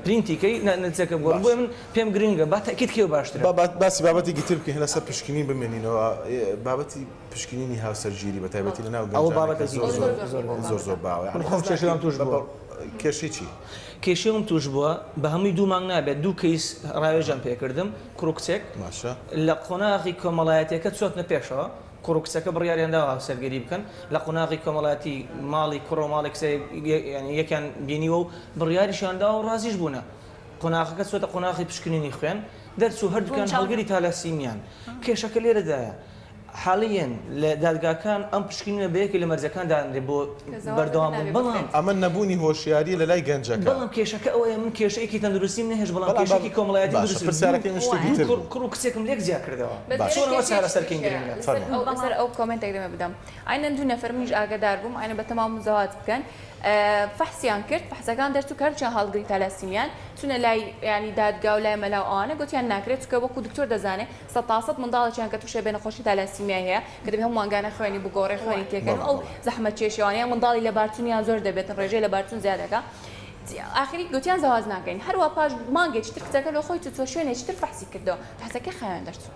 پرینتیکەی نەتیزەکە بۆ بۆ من پێم گرنگە با تاکیت کێ باشترە بابات باسی بابەتی گتر بکەین لەسەر پشکنین بمێنینەوە بابەتی پشکنینی هاوسەرگیری بە تایبەتی لەناو گەنجانەکە زۆر زۆر زۆر زۆر زۆر باوە خۆم چێشرام توش بووە کێشەی چی؟ کێشەی ئەوم توش بوە بە هەموی دوو مانگ نابێت دوو کەیس ڕاوێژیان پێ کردم کوڕ و کچێک باشە. لە قۆناغی کۆمەڵایەتیەکە چۆتنە پێشەوە کوڕ و کچەکە بڕیاریان داوە هاوسەرگیری بکەن لە قۆناغی کۆمەڵایەتی ماڵی کوڕە و ماڵی کچە یانی یەکیان بینیوە و بڕیاریشیان داوە و ڕازیش بونە قۆناغەکە چۆتە قۆناغی پشکنینی خوێن دەرچو هەردوکیان هەڵگری تالاسیمیان کێشەکە لێرەدایە حالیەن لە دادگاکان ئەم پشکنینە بە یەکێک لە مەرجەکان دادەنرێت بۆ بەردەوام بوون بەڵام. ئەمە نەبوونی هۆشیاریە لە لای گەنجەکە. بەڵام کێشەکە ئەوەیە من کێشەیەکی تەندروستیم نەهێشت بەڵام کێشەیەکی کۆمەڵایەتیم دروست کرد. باشە پرسیارەکەی من شتێکی تر بوو. کوڕ و کچێکم لێک جیا کردەوە. باشە. چۆن ئەوە چارەسەرکەین گرنگە. فەرموو. لەسەر ئەو کۆمێنتێک دەمێ بدەم. ئاینەن دوو نەفەر منیش ئاگەدار بووم ئاینە بە تەمام مزەواج بکەن فەحسیان کرد فەحسەکان دەرچوو کە هەرچیان هەڵگری تالاسیمیان چونە لای یانی دادگا و لای مەلا و ئەوانە گۆتیان ناکرێت چونکە وەکو دکتۆر دەزانێ سەد تا سەد منداڵێکیان کە تووشێ بێ نەخۆشی تالاسیمیای هەیە کە دەبێ هەموو مانگانە خوێنی بگۆڕێ خوێنی تێکەن و ئەو زەحمەت کێشی ئەوانە یان منداڵی لەبارچوونیان زۆر دەبێت ڕێژەی لەبارچوون زیاد دەکا ئاخری گوتیان زەواج ناکەین هەروە پاش مانگێکی تر کچەکە لۆ خۆی چوو شوێنێکی تر فەحسی کردەوە فەحسەکەی خاوێن دەرچوو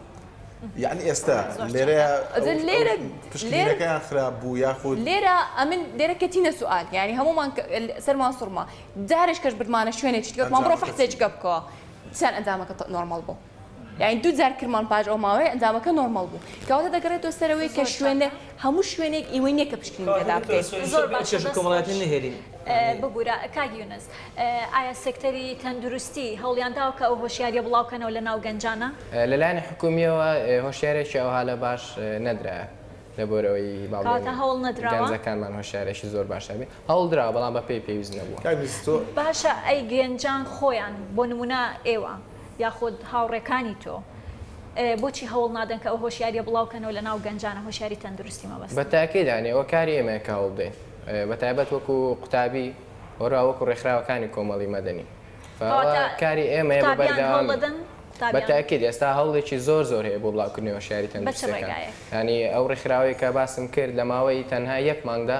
یعنی ئێستا لێرەیە ئەجە لێرە پشکینەکەیان خراپ بوو یاخود لێرە ئەمن لێرە کەتینە سوال یعنی هەمومان سەرمان سوڕما جارێک کەش بردمانە شوێنێکی تر گوتمان بڕۆ فەحسێکیکە بکەوە چیان ئەنجامەکە نۆرماڵ بوو یانی دوو جار کرمان پاش ئەو ماوەیە ئەنجامەکە نۆرماڵ بوو کەواتە دەگەڕێتەوە سەرەوەی کە شوێنە هەموو شوێنێک ئیوەی نیە کە پشکنین تێدا بکەیت زۆر باش چێژ کۆمەڵایەتی نەهێلین ببورە کاک یونس ئایا سێکتەری تەندروستی هەوڵیان داوە کە ئەو هۆشیاریە بڵاو کەنەوە لە ناو گەنجانا؟ لەلایەنی حکومیەوە هۆشیارێکی ئەوها لە باش نەدرا لەبۆرەوەی باڵێن هەوڵ نەدراگەنجەکانمان هۆشارێکی زۆر باشە بێ هەوڵ درا بەڵام بە پێی پێویست نەبووە باشە ئەی گەنجان خۆیان بۆ نمونە ئێوە یاخود هاوڕێکانی تۆ بۆچی هەوڵ نادەن کە ئەو هۆشیاریە بڵاو کەنەوە لە ناو گەنجانە هۆشیاری تەندروستی مەبەستە؟ بە تاکید یانی ئەوە کاری ئێمەیە کە هەوڵبدەین بە تایبەت وەکو قوتابی وەروا وەکو ڕێکخراوەکانی کۆمەڵی مەدەنی ئەوە کاری ئێمەیە بە بەردەوام بە تاکید ئێستا هەوڵێکی زۆر زۆر هەیە بۆ بڵاوکردنەوە شاری تەندروستەکان یانی ئەو ڕێکخراوەیە کە باسم کرد لە ماوەی تەنها یەک مانگدا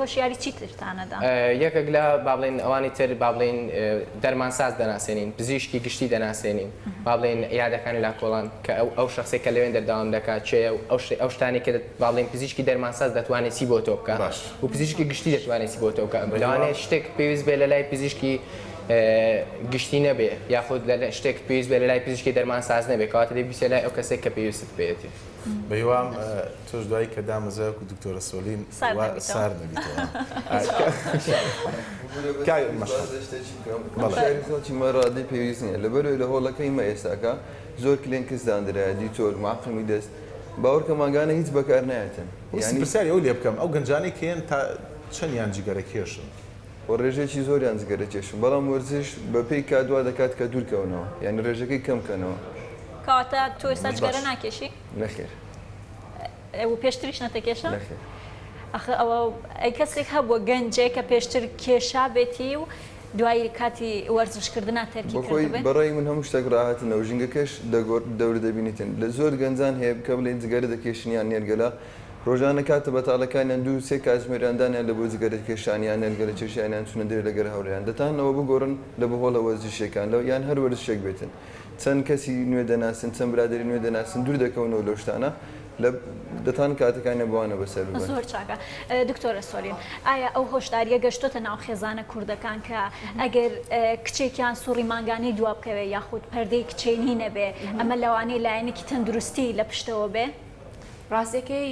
هۆشیاری چی ترتان ئەدا؟ یەکەک لە با بڵێین ئەوانی تر با بڵێین دەرمانساز دەناسێنین، پزیشکی گشتی دەناسێنین، با بڵێین عیادەکانی لاکۆڵان کە ئەو ئەو شەخسەی کە لەوێن دەردەوام دەکات کێیە و ئەو شتە ئەو شتانەی کە با بڵێین پزیشکی دەرمانساز دەتوانێ چی بۆ تۆ بکا و پزیشکی گشتی دەتوانێ چی بۆ تۆ بکا. لەوانەیە شتێک پێویست بێ لە لای پزیشکی گشتی نەبێ یاخود لە لای شتێک پێویست بێ لە لای پزیشکی دەرمانساز نەبێ کەواتە دەی بیچە لای ئەو کەسەی کە پێویستت پێیەتی. بەهیوام. تۆش دوایی کە دامەزرای وەکو دکتۆرە سۆلین وا سارد نەبیتەوە. کاک مەشخەڵ. بەڵێ. شتێکی بکەم. بەڵێ. شاری خەڵکی مە ڕادەی پێویست نییە. لەبەرئەوەی لە هۆڵەکەی مە ئێستاکە زۆر کلێنکس داندرایە، دیتۆل، معقمی دەست. باوەڕکە مانگانە هیچ بەکار نایەتن. یانی. پرسیاری ئەو لێ بکەم، ئەو گەنجانەی کە یەن تا چەندیان جگەرەکێشن؟ وە ڕێژەیەکی زۆریان جگەرەکێشن. بەڵام وەرزش بە پێی کات وا دەکات کە دوور کەونەوە. یانی ڕێژەکەی کەم کەنەوە. کەواتە تۆ ئێستا جگەرە ناکێشی؟ نەخێر. ئەو پێشتریش نەتەکێشە؟ نەخێر. ئەخە ئەوە ئەی کەسێک هەبووە گەنجێک کە پێشتر کێشا بێتی و دوایی کاتی وەرزشکردنا تەرکی کردبێ؟ بەخۆی بەڕای من هەموو شتێک ڕاهاتنە و ژینگەکەش دەگۆڕ دەورە دەبینیتن لە زۆر گەنجان هەیە کە بڵێین جگەرە دەکێشن یان نێرگەلە ڕۆژانە کاتە بەتاڵەکانیان دوو سێ کاتژمێریان دانیان لە بۆ جگەرەکێشان یان نێرگەلە کێشیان یان چوونە درێ لەگەر هاوڕێیان دەتانەوە بگۆڕن لە بەهۆڵە وەرزشیەکان لە یان هەر وەرزشێک بێتن چەند کەسی نوێ دەناسن چەند برادەری نوێ دەناسن دوور دەکەونەوە لەو شتانە لە دەتان کاتەکانیان بەوانە بەسەر ببەن. زۆر چاکە دکتۆرە سۆلین ئایا ئەو هۆشداریە گەشتۆتە ناو خێزانە کوردەکان کە ئەگەر کچێکیان سوڕی مانگانەی دوا بکەوێ یاخود پەردەی کچێنی نەبێ ئەمە لەوانەیە لایەنێکی تەندروستی لە پشتەوە بێ؟ ڕاستەکەی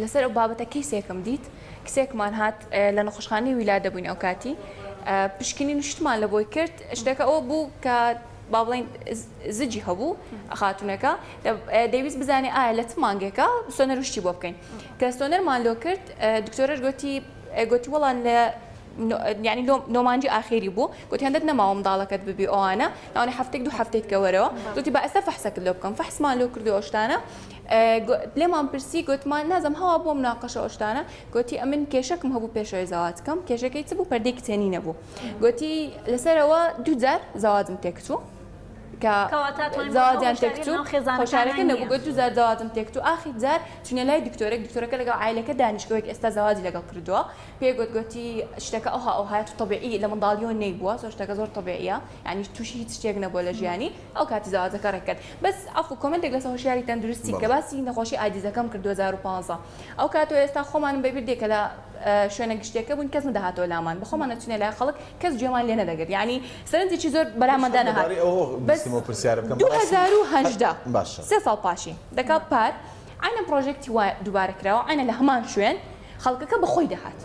لەسەر ئەو بابەتە کەیسێکم دیت کسێکمان هات لە نەخۆشخانەی ویلا دەبووین ئەو کاتی پشکنین شتمان لە بۆی کرد شتەکە ئەوە بوو کە با بڵین زجی هەبوو خاتونەکە دەویست بزانێ ئایا لە چ مانگێکە سۆنەر وشتی بۆ بکەین کە سۆنەرمان لۆ کرد دکتۆرەش گوتی گوتی وەڵان لە ینی نۆمانجی ئاخێری بوو گوتی هەندێک نەماوە منداڵەکەت ببی ئەوانە ناوەی هەفتێک دوو هەفتێک کەوەرەوە گوتی بە ئەستا فەحسەکە لۆ بکەم فەحسمان لۆ کردو ئەوشتانە لێمان پرسی گۆتمان نازم هەوا بۆ مناقەشە ئەو شتانە گۆتی ئەمن کێشەکم هەبوو پێشەوەی زەواجکەم کێشەکەی چ بوو پەردەی کچێنی نەبوو گۆتی لەسەرەوە دووجار زەواجم تێکچوو کە زەواجیان تێکچوو خۆشارەکە نەبوو گۆت دووجار زەواجم تێکچوو ئاخی جار چونە لای دکتۆرێک دکتۆرەکە لەگەڵ عیلەکە دانیشتوەک ئێستا زەواجی لەگەڵ کردووە پێ گۆت گۆتی شتەکە ئەوها ئەوهایەت تەبیعی لە منداڵیەوە نەیبووە زۆر شتەکە زۆر تەبیعیە یانی توشی هیچ شتێک نەبووە لە ژیانی ئەو کاتی زەواجەکە ڕێکرد بەس ئەف و کۆمنتێک لەسە هۆشیاری تەندروستی کە باسی نەخۆشی ئادیزەکەم کرد 2015 ئەو کاتۆ ئێستا خۆمانم بەبیر دێکە لە شوێنە گشتێکە بوون کەس نەدەهاتۆ لامان بخۆمان نەچونە لای خەڵک کەس جێمان لێ نەدەگرت ینی سەرنجێکی زۆر بەلامەدا نەهات سێ ساڵ پاشی دەکات پار ئاینە پرۆژێکتی وای دووبارە کراوە ئاینە لە هەمان شوێن خەڵکەکە بەخۆی دەهات.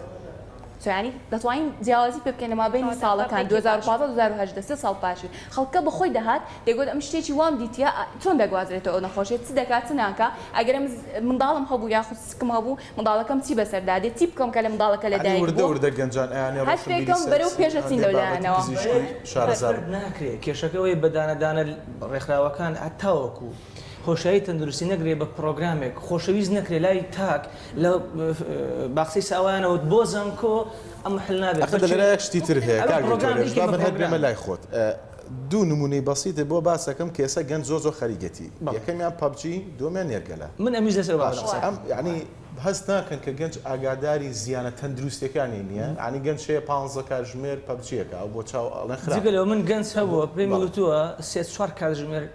سۆرانی، دەتوانین جیاوازی پێ بکەین لە مابەینی ساڵەکان، دوو هەزار و پازدە، دوو هەزار و هەژدە، سێ ساڵ پاشی. خەڵکەکە بە خۆی دەهات، دەیگوت ئەمن شتێکی وام دیتیە، ئا چۆن دەگوازرێتەوە ئەو نەخۆشیە، چ دەکا، چ ناکا، ئەگەر ئەمن منداڵم هەبوو یاخود سکم هەبوو، منداڵەکەم چی بەسەردا دێ، چی بکەم کە لە منداڵەکە لە یانی دایک وردە بووە. وردە گەنجان ئەیانێ هەست ڕۆشنبیری پێکەم سێکسی بەرەو پێش و ئەچین هەندێ لەو بابەتی لایەنەوە. پزیشکی شارەزا بن. ناکرێ، کێشەکە ئەوەیە بە دانە دانە ڕێکخراوەکان هەتاوەکو. خۆشایی تەندروستی نەکرێ بە پرۆگرامێک خۆشەویست نەکرێ لای تاک لە باخچەی ساوایانەوە بۆ زانکۆ ئەمە حل نابێت ئەخە بەچێ دەلێرە شتی تر هەیە ئەوە کاک دکتۆر پرۆگرام هێرش نییە با بە من هەر بێمە پرۆگرام لای خۆت ئە، دوو نموونەی بەسیتت بۆ باس ئەکەم کە ئێستا گەنج زۆر زۆر خەریکێتی بەڵێ یەکەمیان پەبجی دووەمیان نێرگەلە من ئەمیش لەسەر ئەوە دارم باشە قسە ئەم دەکەم یانی هەست ناکەن کە گەنج ئاگاداری زیانە تەندروستیەکانی نییە یانی گەنج هەیە پانزە کاتژمێر پەبجیەکە ئەو بۆ چاو ئەڵێن جگە خراپە لەوە من گەنج هەبووە بەڵێ پێمی بەڵێ وتووە سێ چوار کاتژمێر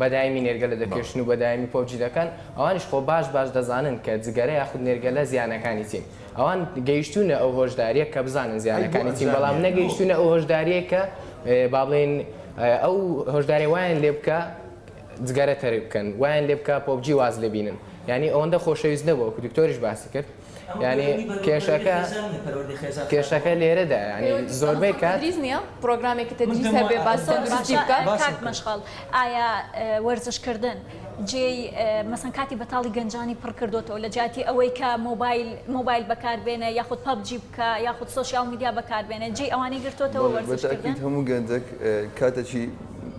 بەدایمی نێرگەلە دەکێشن و بەدایمی پۆبجی دەکەن، ئەوانیش خۆ باش باش دەزانن کە جگەرە یاخود نێرگەلە زیانەکانی چین، ئەوان گەیشتوونە ئەو هۆشدارییە کە بزانن زیانەکانی چین، بەڵام نەگەیشتوونە ئەو هۆشدارییەی کە با بڵێین ئەو هۆشدارییە وایان لێ بکا جگەرە تەرک بکەن، وایان لێ بکا پۆبجی واز لێ بینن، یانی ئەوەندە خۆشەویست نەبوو، وەکو دکتۆریش باسی کرد. یعنی کێشەکە کێشەکە لێرەدا یعنی زۆربەی کات تدریس نییە پرۆگرامێکی تدریس هەبێ باس تەندروستی بکە باشە کاک مەشخەڵ ئایا وەرزشکردن جێی مەسەن کاتی بەتاڵی گەنجانی پڕ کردوتەوە لە جیاتی ئەوەی کە مۆبایل مۆبایل بەکاربێنە یاخود پەبجی بکە یاخود سوسیال میدیا بەکاربێنە جێی ئەوانەی گرتوتەوە بەڵێ بە تاکید وەرزشکردن هەموو گەنجەک کاتەکی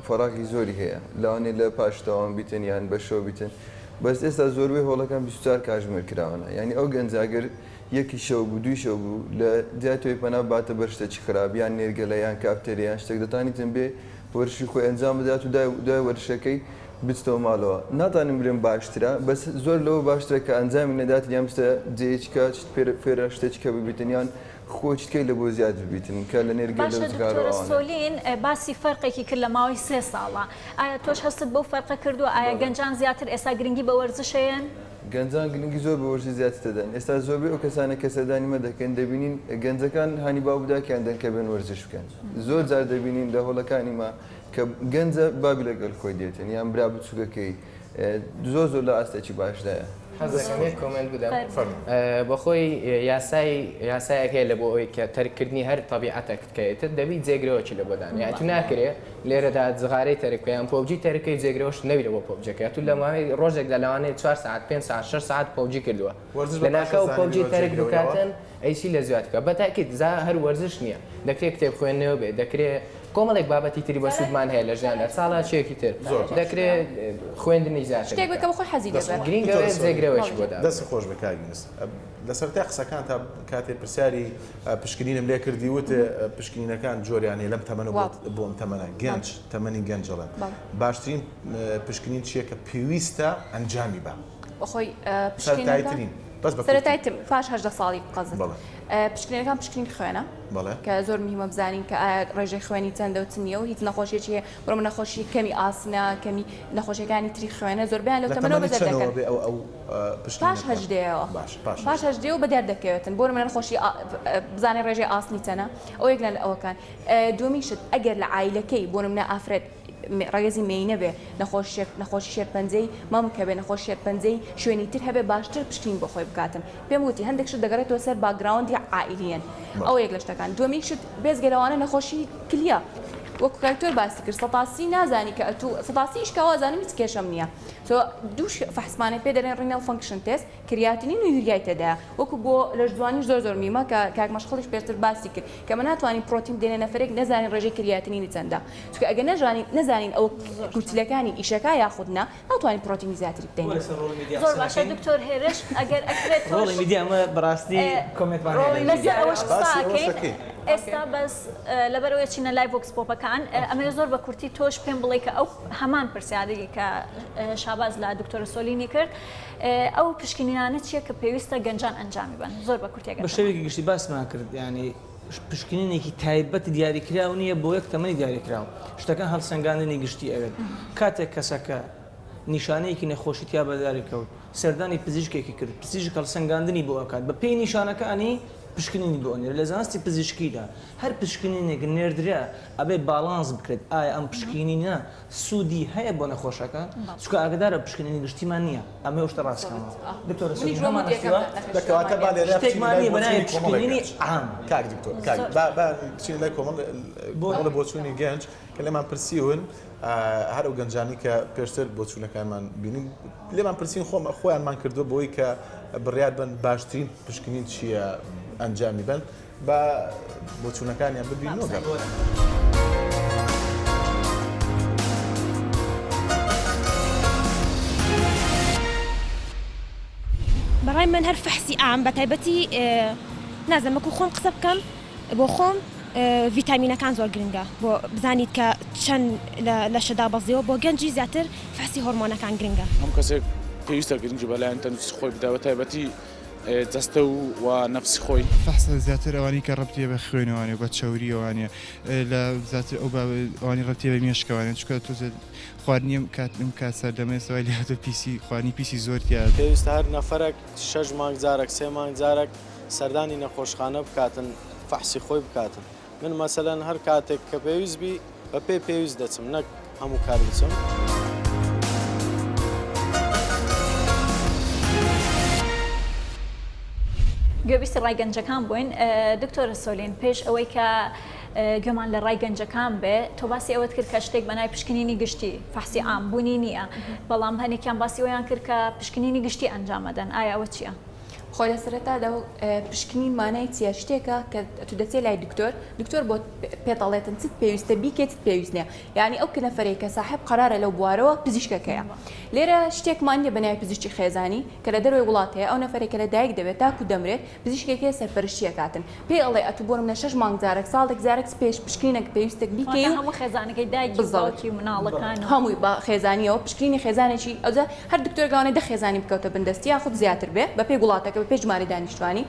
فەراغی زۆری هەیە لەوانەیە لە پاش دەوام بیتن یان بە شەو بیتن بەس ئێستا زۆربەی هۆڵەکان بیست و چوار کاژمێر کراونە یانی ئەو گەنجە ئەگەر یەکی شەو بوو دووی شەو بوو لە جای تۆی پەنا بباتە بەر شتەکی خراپ یان نێرگەلە یان کافتێریا یان شتەک دەتانیتن بێ وەرشی خۆی ئەنجام بدات و دوای دوای وەرشەکەی بچتەوە ماڵەوە ناتانم بلێم باشترە بەس زۆر لەوە باشترە کە ئەنجامی نەداتن یان بچتە جێیەکی کە شت فێرە شتەکی کە ببیتن یان خۆ چت کەی لە بۆ زیاد ببیتن کە لە نێر گێلە و جگارۆ ئەوانە. باشە دکتۆرە سۆلین باسی فەرقێکی کرد لە ماوەی سێ ساڵە ئایا تۆش هەستت بەو فەرقە کردووە ئایا گەنجان زیاتر ئێستا گرنگی بە وەرزش ئەیەن؟ گەنجان گرنگی زۆر بە وەرزش زیاتر دەدەن ئێستا زۆربەی ئەو کەسانە کە سەردانی مە دەکەن دەبینین گەنجەکان هانی باوک داکیان دەن کە بێن وەرزش بکەن زۆر جار دەبینین لە هۆڵەکانی مە کە گەنجە باوک لەگەل خۆی دێتن یان برا بچوکەکەی زۆر زۆر لە ئاستێکی باشدایە. حەزەکەم یەک کۆمێنت بدەم. خێر بێ. فەرموو. بە خۆی یاسای یاسایەک هەیە لە بۆ ئەوەی کە تەرککردنی هەر تەبیعەتەک کە ئیتر دەبی جێگرەوەکی لە بۆ دانێ. یانی تو ناکرێ لێرەدا جغارەی تەرک بکەی یان پۆبجی تەرک کەی جێگرەوەشت نەبی لە بۆ پۆبجەکە. تو لە ماوەی ڕۆژێکدا لەوانەیە چوار سەعات، پێنج سەعات، شەش سەعات پۆبجی کردووە. وەرزش بە باشە لەناکاو زانی پۆبجی بیرۆ تەرک جێگرەونەوە. بکاتن ئەی چی لە زیاد بکە بەتاکید زا هەر وەرزش نیە دەکرێ کتێب خوێندنەوە بێ دەکرێ کۆمەڵێک بابەتی تری بەسودمان هەیە لە ژیاندا چاڵاکیەکی تر زۆر باش. دەکرێ خوێندنی زیاتر شتێک بکە بکە بە خۆی حەزی دەست لێبێ. خۆش. گرینگە دکتۆرە سۆلی. جێگرەوەشی بۆ دابنێ. دەستی خۆش بێ کاک یونس لە سەرەتای قسەکانتا کاتێ پرسیاری پشکنینم لێ کردی وت پشکنینەکان جۆریان هەیە لەم تەمەنە بۆ واو. بۆ ئەم تەمەنە گەنج تەمەنی گەنج ئەڵێم بەڵێ. باشترین پشکنین چیە کە پێویستە ئەنجامی بەم؟ بەخۆی پشکینەکان بەس بە سەرەتای تر پاش هەژدە ساڵی قەزت بەڵێ پشکینەکان پشکنین خوێنە بەڵێ کە زۆر مهمە بزانین کە ئایا ڕێژەی خوێنی چەندە و چ نییە و هیچ نەخۆشیێکی هەیە بڕم نەخۆشی کەمی ئاسنە کەمی نەخۆشیەکانی تری خوێنە زۆربیان لەو لە تەمەەوە تەمەنی بەدەر چەنەوە دەکەن بێ ئەو ئەو پشت پاش هەژدەیەوە باش پاش پاش هەژدێ و بەدەر دەکەوێتن بۆ منە خۆشی ئا- بزانێ ڕێژەی ئاسنی چەنە ئەو یەک لە ئەوەکان ئە، دووەمین شت ئەگەر لە عیلەکەی بۆ منە ئافرەت ڕەگەزی مێینە بێ نەخۆشی شێرپەنجەی مەم کە بێ نەخۆش شێرپەنجەی شوێنی تر هەبێ باشتر پشکنین بۆ خۆی بکاتن پێم وتی هەندێک شت دەگەڕێتەوە سەر باگراوندی عائیلیەن ئەو یەک لە شتەکان دومیک شت بێزگە لەوانە نەخۆشی کلیە وەکو کاکتۆر باسی کرد سەتاسی نازانی کە ئەتوو سەتاسیش کەوازانم هیچ کێشەم نییە تۆ دوو فەحسمانە پێ دەرێن ڕینەڵ فەنکشن تێست کریاتنین و یوریای تێدایە وەکو بۆ لەشجوانی زۆر زۆر میمە کە کاک مەشخەڵیش پێشتر باسی کرد کەمە ناتوانین پرۆتین بدەینە نەفرێک نەزانین ڕێژەی کریاتنینی چەندە چونکە ئەگەر نەژانین نەزانین ئەوە کورتیلەکانی ئیشەکە یاخود نا ناتوانین پرۆتینی زیاتری بدەینە. زۆر باشە دکتۆر هێرش ئەگەر ئەکرێت تۆش لەسەر ئەوەش قسە ئەکەیت ئێستا بەس لەبەرەوەی چینە لای ڤۆکس پۆپەکان ئەمەوێ زۆر بە کورتی تۆش پێم بڵێ کە ئەو هەمان پرسیاری کە شاباز لە دکتۆرە سۆلینی کرد ئەو پشکنینانە چیە کە پێویستە گەنجان ئەنجامی بەن زۆر بە کورتێک بە شێوەیەکی گشتی باسمان کرد ینی پشکنینێکی تایبەت دیاریکراو نییە بۆ یەک تەمەنی دیاریکراوە شتەکان هەڵسەنگاندنی گشتی ئەوێت کاتێک کەسەکە نیشانەیەکی نەخۆشی تیا بەداری کەوت سەردانی پزیشکێکی کرد پزیشک هەڵسەنگاندنی بۆ ئەکات بە پێی نیشانەکانی پشکنینی بۆ نێر لە زانستی پزیشکیدا هەر پشکنینێک نێردرا ئەبێ باڵانس بکرێت ئایا ئەم پشکینینە سودی هەیە بۆ نەخۆشەکە چونکە ئاگەدارە پشکنینی گشتیمان نیە ئەمەو شتە ڕاست کەمەوە دکتۆرە سودی هەمان ئەستوە کەواتە با لێرە بچینە لای بۆچونی کۆمەڵێک کاک دکتۆر کاک با با بچینە لای کۆمەڵ بۆچونی گەنج کە لێمان پرسیون هەر ئەو گەنجانی کە پێشتر بۆچونەکانمان بینی لێمان پرسین خۆم خۆیانمان کردووە بۆی کە بڕیار بن باشترین پشکنین چییە ئەنجامی بن با بۆچوونەکانیان ببین نۆگەڕێ. بەڕای من هەر فەحسی عام بە تایبەتی نازانم وەکو خۆم قسە بکەم بۆ خۆم ڤیتامینەکان زۆر گرنگە بۆ بزانیت کە چەند لە لەشە دابەزیوە بۆ گەنجی زیاتر فەحسی هۆرمۆنەکان گرنگە. هەموو کەسێک پێویستە گرنگی بە لایەنی تەندروستی خۆی بدا بە تایبەتی جەستە و و نەفسی خۆی. فەحس لە زیاتر ئەوانەی کە ڕەبتیە بە خوێنەوانێ و بە چەورییەوانێ لە زیاتر ئەو بە ئەوانی ڕەبتیە بە مێشکەوانێ چکە تۆزێ خواردنی ئەم کات ئەم کات سەردەمەێ سەوای لە هاتە پیسی خوانی پیسی زۆرتیاد. پێویستە هەر نەفەرەک شەش مانگ جارەک سێ مانگ جارەک سەردانی نەخۆشخانە بکاتن فەحسی خۆی بکاتن من مەسەلەن هەر کاتێک کە پێویست بی بە پێی پێویست دەچم نەک هەموو کار بچم. گوێبیستی ڕای گەنجەکان بووین دکتۆرە سۆلین پێش ئەوەی کە گوێمان لە ڕای گەنجەکان بێ تۆ باسی ئەوەت کرد کە شتێک بەنای پشکنینی گشتی فەحسی ئام بوونی نییە بەڵام هەنێکیان باسی ئەویان کرد کە پشکنینی گشتی ئەنجامەدەن ئایا ئەوە چییە؟ خۆ لە سەرەتادا و پشکنین مانای چیە شتێکە کە تو دەچێت لای دکتۆر دکتۆر بۆ پێتەڵێتن چت پێویستە بیکێت پێویست نیە یعنی ئەو کنەفرەی کە ساحب قرارە لەو بوارەوە پزیشکەکەیە لێرە شتێکمان نیە بەنای پزیشتی خێزانی کە لە دەروی وڵات هەیە ئەو نەفرێکە لە دایک دەبێت تاکو دەمرێت پزیشکێکی سەرپەرشتیەکاتن پێی ئەڵێ ئەتوو بۆ نمونە شەش مانگ جارەک، ساڵێک جارەک سپێش، پشکرینێک پێویستە بیکەی واتە و هەموو خێزانەکەی دایکی و بزەوت. باوکی و مناڵەکان و. هەمووی بە خێزانییەوە پشکرینی خێزانێکی ئەوجا هەر دکتۆرێک لەوانەیە دە خێزانی بکەوتە بن دەستی یاخود زیاتر بێ بە پێی وڵاتەکە بە پێی ژمارەی دانیشتوانی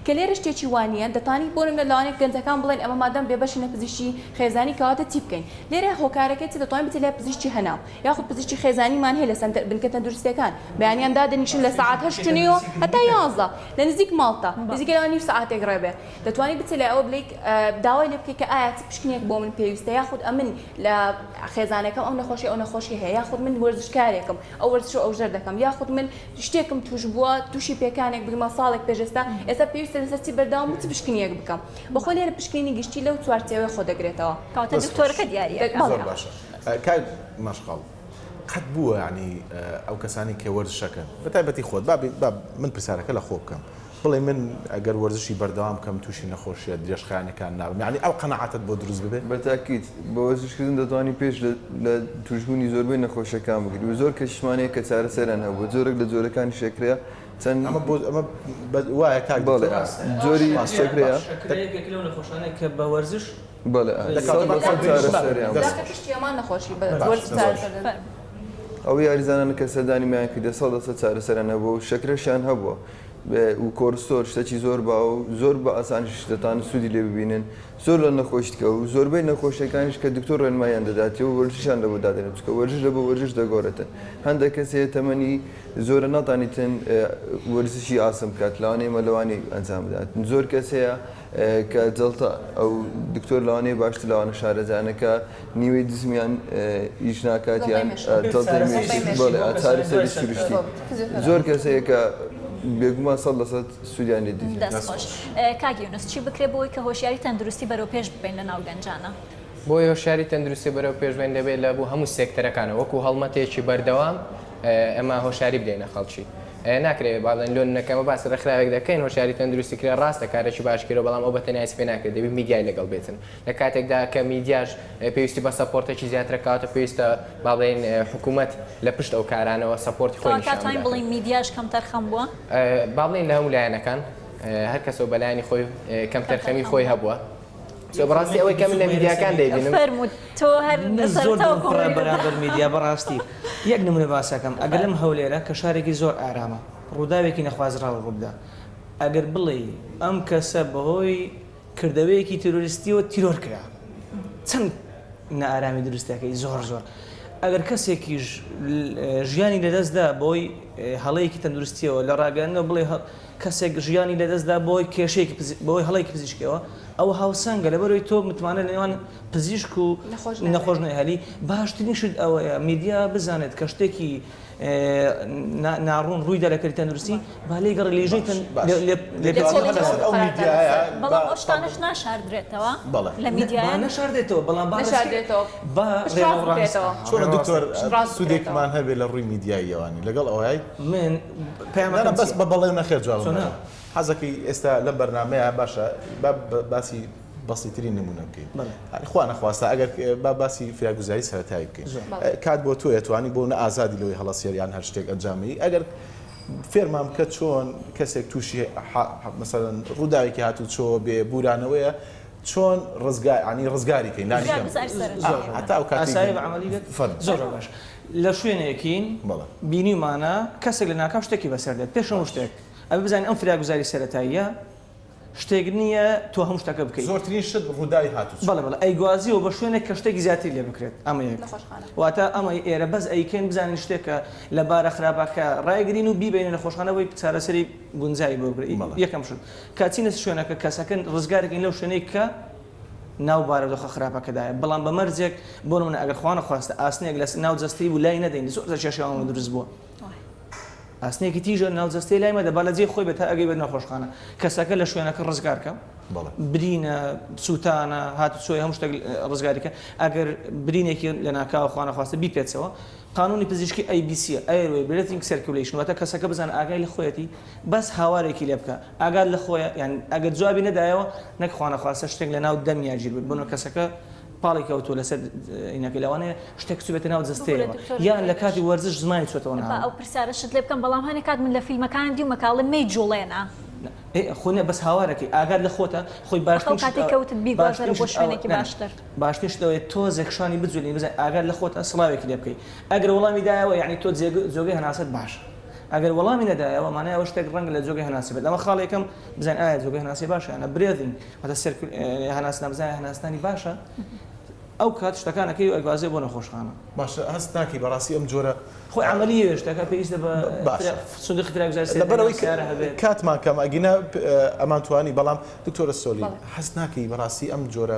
کە لێرە شتێکی وا نییە دەتانی بۆ نمونە لەوانەیە گەنجەکان بڵێن ئێمە مادام بێبەشینە پزیشکی خێزانی کەواتە چی بکەین لێرە هۆکارەکەی چ دەتوانی بچی لای پزیشکی هەناو یاخود پزیشکی خێزانیمان هەیە لە سەنتەر بنکە تەندروستییەکان، بەیانیان دادەنیشن لە سەعات هەشت و نیو و هەتا یازدە لە نزیک ماڵتە، نزیکەی لەوان نیو سەعاتێک ڕێ بێ، دەتوانی بچێ لای ئەوە بلێی داوای لێ بکەی کە ئایا چ پشکنینێک بۆ من پێویستە یاخود ئەمن لە خێزانەکەم ئەو نەخۆشی ئەو نەخۆشی هەیە یاخود من وەرزشکارێکم ئەو وەرزشە ئەو ژەر دەکەم یاخود من شتێکم توش بووە توشی پێکانێک بویمە ساڵێک پێش ئێستا ئێستا پێویستە لەسەر چی بەردەوام بم چ پشکنینێک بکەم بەخۆ لێرە پشکنینی گشتی لەو چوارچێوەیە خۆ دەگرێتەوە. کەواتە دکتۆرەکە دیارییە. بەڵێ. کاک مەشخەڵ قەت بووە یانی ئەو کەسانی کە وەرزش ئەکەن بە تایبەتی خۆت با با من پرسیارەکە لە خۆ بکەم بڵێ من ئەگەر وەرزشی بەردەوام بکەم تووشی نەخۆشیە درێژخایەنەکان نابم یانی ئەو قەناعەتت بۆ دروست ببێ؟ بە تاکید بە وەرزش کردن دەتوانی پێش لە لە تووشبوونی زۆربەی نەخۆشیەکان بگری و زۆر کەشیشمان هەیە کە چارەسەریان هەبووە جۆرێک لە جۆرەکانیش ئەکرێ چەند ئەمە بۆ ئەمە بە وایە کاک دکتۆر؟ بەڵێ جۆری شەکرەیە. شەکرە یەکێکە لەو نەخۆشانەی کە بە وەرزش. بەلێ ئای سەد لە سەد چارەسەریان بۆ باشە. ئەو یاریزانانە کە سەردانیمیان کردە سەد لە سەد چارەسەریان هەبووە و شەکرەشیان هەبووە و کۆرستۆر شتەکی زۆر باو و زۆر بە ئاسانیش دەتوانن سوودی لێ ببینن زۆر لە نەخۆش تکە و زۆربەی نەخۆشیەکانیش کە دکتۆر ڕێنماییان دەداتێ و وەرزشیان لەبۆ دادەنێت چونکە وەرزش لە بۆ وەرزش دەگۆرێتن هەندێک کەس هەیە تەمەنی زۆرە ناتانیتن وەرزشی ئاسن بکات لەوانەیە مەلەوانی ئەنجام بدات زۆر کەس هەیە کە جەڵتە ئەو دکتۆر لەوانەیە باشتر لەوانە شارەزایانە کە نیوەی دزمیان ئیش ناکات یان جەڵتەی مێشک بەڵێ چارەسەری سروشتی زۆر کەس هەیە کە بێگومان سەد لە سەد سوودیان لێ دەبینن. دەست خۆش. کاک یونس چی بکرێت بۆ ئەوەی کە هۆشیاری تەندروستی بەرەو پێش ببەین لە ناو گەنجانە؟ بۆ ئەوەی هۆشیاری تەندروستی بەرەو پێش بەین دەبێت لە بۆ هەموو سێکتەرەکانەوە وەکو هەڵمەتێکی بەردەوام ئێمە هۆشیاری بدەینە خەڵکی. ناکرێ با بڵێن لۆ نونە کەمە باسی ڕێکخراوێک دەکەین هۆشیاری تەندروستی کرێ ڕاستە کارێکی باش کردوە بەڵام ئەو بە تەنیا هیچ پێ ناکرێ دەبی میدیای لەگەڵ بێتن لە کاتێکدا کە میدیاش پێویستی بە سەپۆرتەکی زیاترە کەواتە پێویستە با بڵێن حکومەت لە پشت ئەو کارانەوە سەپۆرتی خۆی نیشان بدات. کەواتە ئەتوانین بڵێین میدیاش کەمتەرخەم بوە؟ با بڵێین لە هەموو لایەنەکان هەر کەسەو بە لایەنی خۆی کەمتەرخەمی خۆی هەبوە. تۆ بەڕاستی ئەوەی کە من لە میدیاکان دەیبینم. فەرموو تۆ هەر من زۆر لەسەرەتاوە دڵم پڕە کۆمێنت دەکا. بەرامبەر میدیا بەڕاستی یەک نمونە باس ئەکەم ئەگەر لەم هەولێرە کە شارێکی زۆر ئارامە ڕووداوێکی نەخوازراو ڕووبدا ئەگەر بڵێی ئەم کەسە بەهۆی کردەوەیەکی تیرۆریستیەوە تیرۆر کرا چەند نائارامی دروست دەکەی زۆر زۆر ئەگەر کەسێکیش ژیانی لەدەست دا بەهۆی هەڵەیەکی تەندروستیەوە لە ڕاگەیاندنەوە بڵێ کەسێک ژیانی لەدەستدا بەهۆی کێشەیەکی پزیشکی، بەهۆی هەڵەیەکی پزیشکیەوە، ئەوە هاوسەنگە، لەبەرئەوەی تۆ متمانە لەنێوان پزیشک و نەخۆش نەهێلی، باشترین شت ئەوەیە میدیا بزانێت کە شتێکی ناڕوون ڕوویدا لە کەرتی تەندروستی، با لێیگەڕێت لیژنەی تەندروستی. نانا بەس بە بەڵێ و نەخێر جوابم بەرە. سۆنا حەزەکەی ئێستا لەم بەرنامەیە باشە با باسی بەسیترین نموونە بکەین. بەڵێ. خوا نەخواستە ئەگەر با باسی فریاگوزاری سەرەتایی بکەین. زۆر. کات بۆ تۆیە توانی بۆ نە ئازادی لەوەی هەڵەسێر یان هەر شتێک ئەنجام بدەی ئەگەر فێرمان بکە چۆن کەسێک تووشی حا مەسەلەن ڕووداوێکی هاتووچۆوە بێ بوورانەوەیە چۆن ڕزگا یانی ڕزگاری کەین لانی کەم. زۆر زۆر زۆر. هەتا ئەو کاتەی ئاسایە بە عەمەلی بێت. فەرموو. زۆر زۆر باش. لە شوێنێکین بەڵێ. بینیومانە کەسێک لەناکاو شتێکی بەسەر دێت، پێش هەموو باشە. شتێک ئەبێ بزانین ئەم فریاگوزاری سەرەتاییە شتێک نییە تۆ هەموو شتەکە بکەی. زۆرترین شت ڕووداوی هاتوچۆ. بەڵێ بەڵێ ئەیگوازیەوە بە شوێنێک کە شتێکی زیاتری لێ بکرێت ئەمە یەک نەخۆشخانە. واتە ئەمەی ئێرە بەس ئەیکەین بزانین شتێکە لە بارە خراپەکە ڕایگرین و بیبەینە نەخۆشخانە بۆی چارەسەری گونجاوی بۆ بکرێت بەڵێ. یەکەم شت کە ئەچینە شوێنەکە کەسەکە ڕزگارەکەین لەو شوێنەی کە ناو بارودۆخە خراپەکەدایە بەڵام بە مەرجێک بۆ نموونە ئەگەر خوا نەخواستە ئاسنێک لە ناو جەستەی بوو لای نەدەین زۆر جار کێشەی ئەوەمان دروست بووە ئاسنێکی تیژە ناو جەستەی لای مەدە با لە جێی خۆی بێت تا ئەگەی بێت نەخۆشخانە کەسەکە لە شوێنەکە ڕزگار کە برینە سووتانە هاتوچۆی هەموو شتێک ڕزگاری کە ئەگەر برینێکی لە ناکاوە خوا نەخواستە بیپێچەوە قانونی پزیشکی ئەی بی سیە ئەیروەی برێتینگ سێرکیولەیشن واتە کەسەکە بزانە ئاگای لە خۆیەتی بەس هاوارێکی لێ بکە ئاگات لە خۆیە یانی ئەگەر جوابی نەدایەوە نەک خوانەخواستە شتێک لە ناو دەمیا گیر بێت بۆنە کەسەکە پاڵی کەوتووە لەسەر ئینەکە لەوانەیە شتێک بچێتە ناو جەستەیەوە یان لە کاتی وەرزش زمانی چۆتەوە ناو. با ئەو پرسیارەشت لێ بکەم بەڵام هەنێ کات من لە فیلمەکان دیومە کە ئەڵێ مەیجوڵێنە. ئێ خۆ نە بەس هاوارەکەی ئاگات لە خۆتە خۆی باشترین شت ئەوە. ئەو کاتەی کەوتت بیگوازەرە بۆ شوێنێکی باشتر. باشترین شت ئەوەیە تۆزێک شانی بجووڵێنی بزانین ئاگات لە خۆتە سڵاوێکی لێ بکەی ئەگەر وەڵامی دایەوە یانی تۆ جێگە جۆگەی هەناسەت باشە. ئەگەر وەڵامی نەدایەوە مانای ئەوە شتێک ڕەنگە لە جۆگەی هەناسەی بێت، ئەوە خاڵی یەکەم بزانین ئایا جۆگەی هەناسەی باشە یان نە، Breathing، واتە سێرکول ە هەناسنا بزانین ئایا هەناسنانی باشە ئەو کات شتەکان ئەکەی و ئەیگوازێ بۆ نەخۆشخانە. باشە هەست ناکەی بەڕاستی ئەم جۆرە خۆی عەمەلییە شتەکە پێویستە بە باشە فرە سندوقی تراکزای سێدەی لەبەر ئەوەی سیارە هەبێت. کاتمان کەمە ئەگینا ئەمانتوانی بەڵام دکتۆرە سۆلین بەڵێ. هەست ناکەی بەڕاستی ئەم جۆرە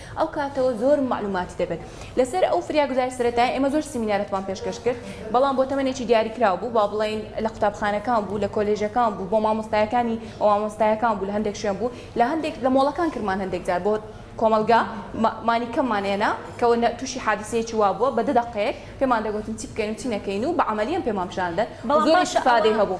ئەو کاتەوە زۆر مەعلوماتی دەبێت لەسەر ئەو فریاگوزاری سەرەتایە ئێمە زۆر سیمینارەتمان پێشکەش کرد بەڵام بۆ تەمەنێکی دیاریکراو بوو با بڵین لە قوتابخانەکان بوو لە کۆلێژەکان بوو بۆ مامۆستایەکانی بۆ مامۆستایەکان بوو لە هەندێک شوێن بوو لە هەندێک لە مۆڵەکان کرمان هەندێک جار بۆ کۆمەلگا مانی کەممان هێنا کەەوە تووشی حادسەیەکی وا بووە بە دە دەقەیەک پێمان دەگوتن چی بکەین و چی نەکەین و بە عملیان پێمان پیشاندەن زۆر استفادەی هەبوو.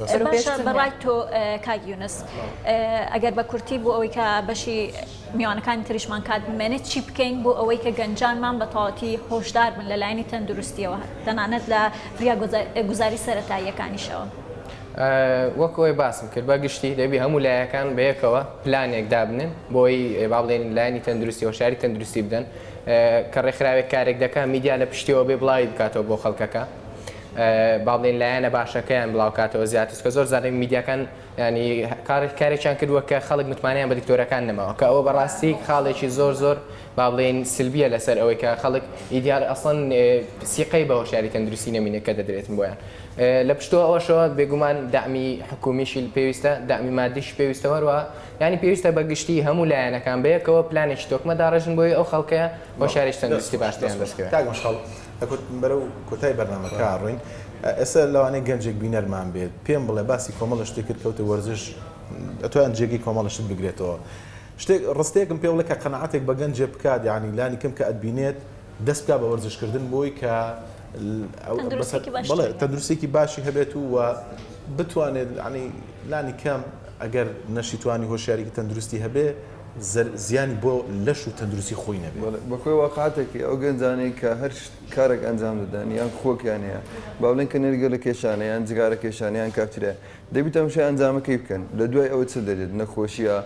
باشە بەڕای تۆ کاک یونس ئەگەر بە کورتی بۆ ئەوەی کە بەشی میوانەکانی تریشمان کات بمێنێت چی بکەین بۆ ئەوەی کە گەنجانمان بە تەواتی هۆشدار بن لە لایەنی تەندروستیەوە تەنانەت لە فریا گوزاری سەتاییەکانیشەوە. وەکۆی باسم کرد بە گشتی دەبی هەموو لایەکان بەیەکەوە پلانێک دابنن بۆی با بڵێن لایانی تەندروستی هۆشاری تەندروستی بدەن کە ڕێکخراوێک کارێک دەکە میدیا لە پشتیەوە بێ بڵاوی بکاتەوە بۆ خەڵکەکە با بڵێین لایەنە باشەکەیان بڵاوکاتەوە زیاتر چونکە زۆر جار میدیاکان یانی کارێک کارێکیان کردووە کە خەڵک متمانەیان بە دکتۆرەکان نەماوە کە ئەوە بەڕاستی خاڵێکی زۆر زۆر با بڵێین سلبیە لەسەر ئەوەی کە خەڵک ئیدیار ئەسڵەن سیقەی بە هۆشیاری تەندروستی نەمینێ کە دەدرێتن بۆیان لە پشتەوە ئەوەشەوە بێگومان دامی حکومیشی پێویستە دامی مادیش پێویستە هەروە ینی پێویستە بە گشتی هەموو لایەنەکان بەیەکەوە پلانێکی تۆکمە داڕێژن بۆی ئەو خەڵکەیە هۆشارێک تەندروستی باشتیان دەستکەوێت. دەکوتن بەرەو کۆتای بەرنامەکە ئەڕۆین ئێستا لەوانەیە گەنجێک بینەرمان بێت پێم بڵێ باسی کۆمەڵە شتێک کرد کەوتە وەرزش ئەتوان جێگەی کۆمەڵە شت بگرێتەوە شتێک ڕستێکم پێ بڵێ کە قەنەعاتێک بە گەنجێ بکات یعنی لانی کەم کە ئەتبینێت دەست بکە بە وەرزشکردن بۆی کە تەندروستێکی باشی هەبێت و و بتوانێت عنی لانی کەم ئەگەر نەشیتوانی هۆشیاریکی تەندروستی هەبێ زیانی بۆ لەش و تەندروستی خۆی نەبێ. بەڵێ بەخۆی واقعەتەکەی ئەو گەنجانەی کە هەر کارەک ئەنجام دەدەن یان خۆکیان هەیە با بڵێن کە نێرگەلە کێشانە یان جگارە کێشانە یان کافتریایە دەبی تەمشای ئەنجامەکەی بکەن لە دوای ئەوە چ دەرێت نەخۆشیە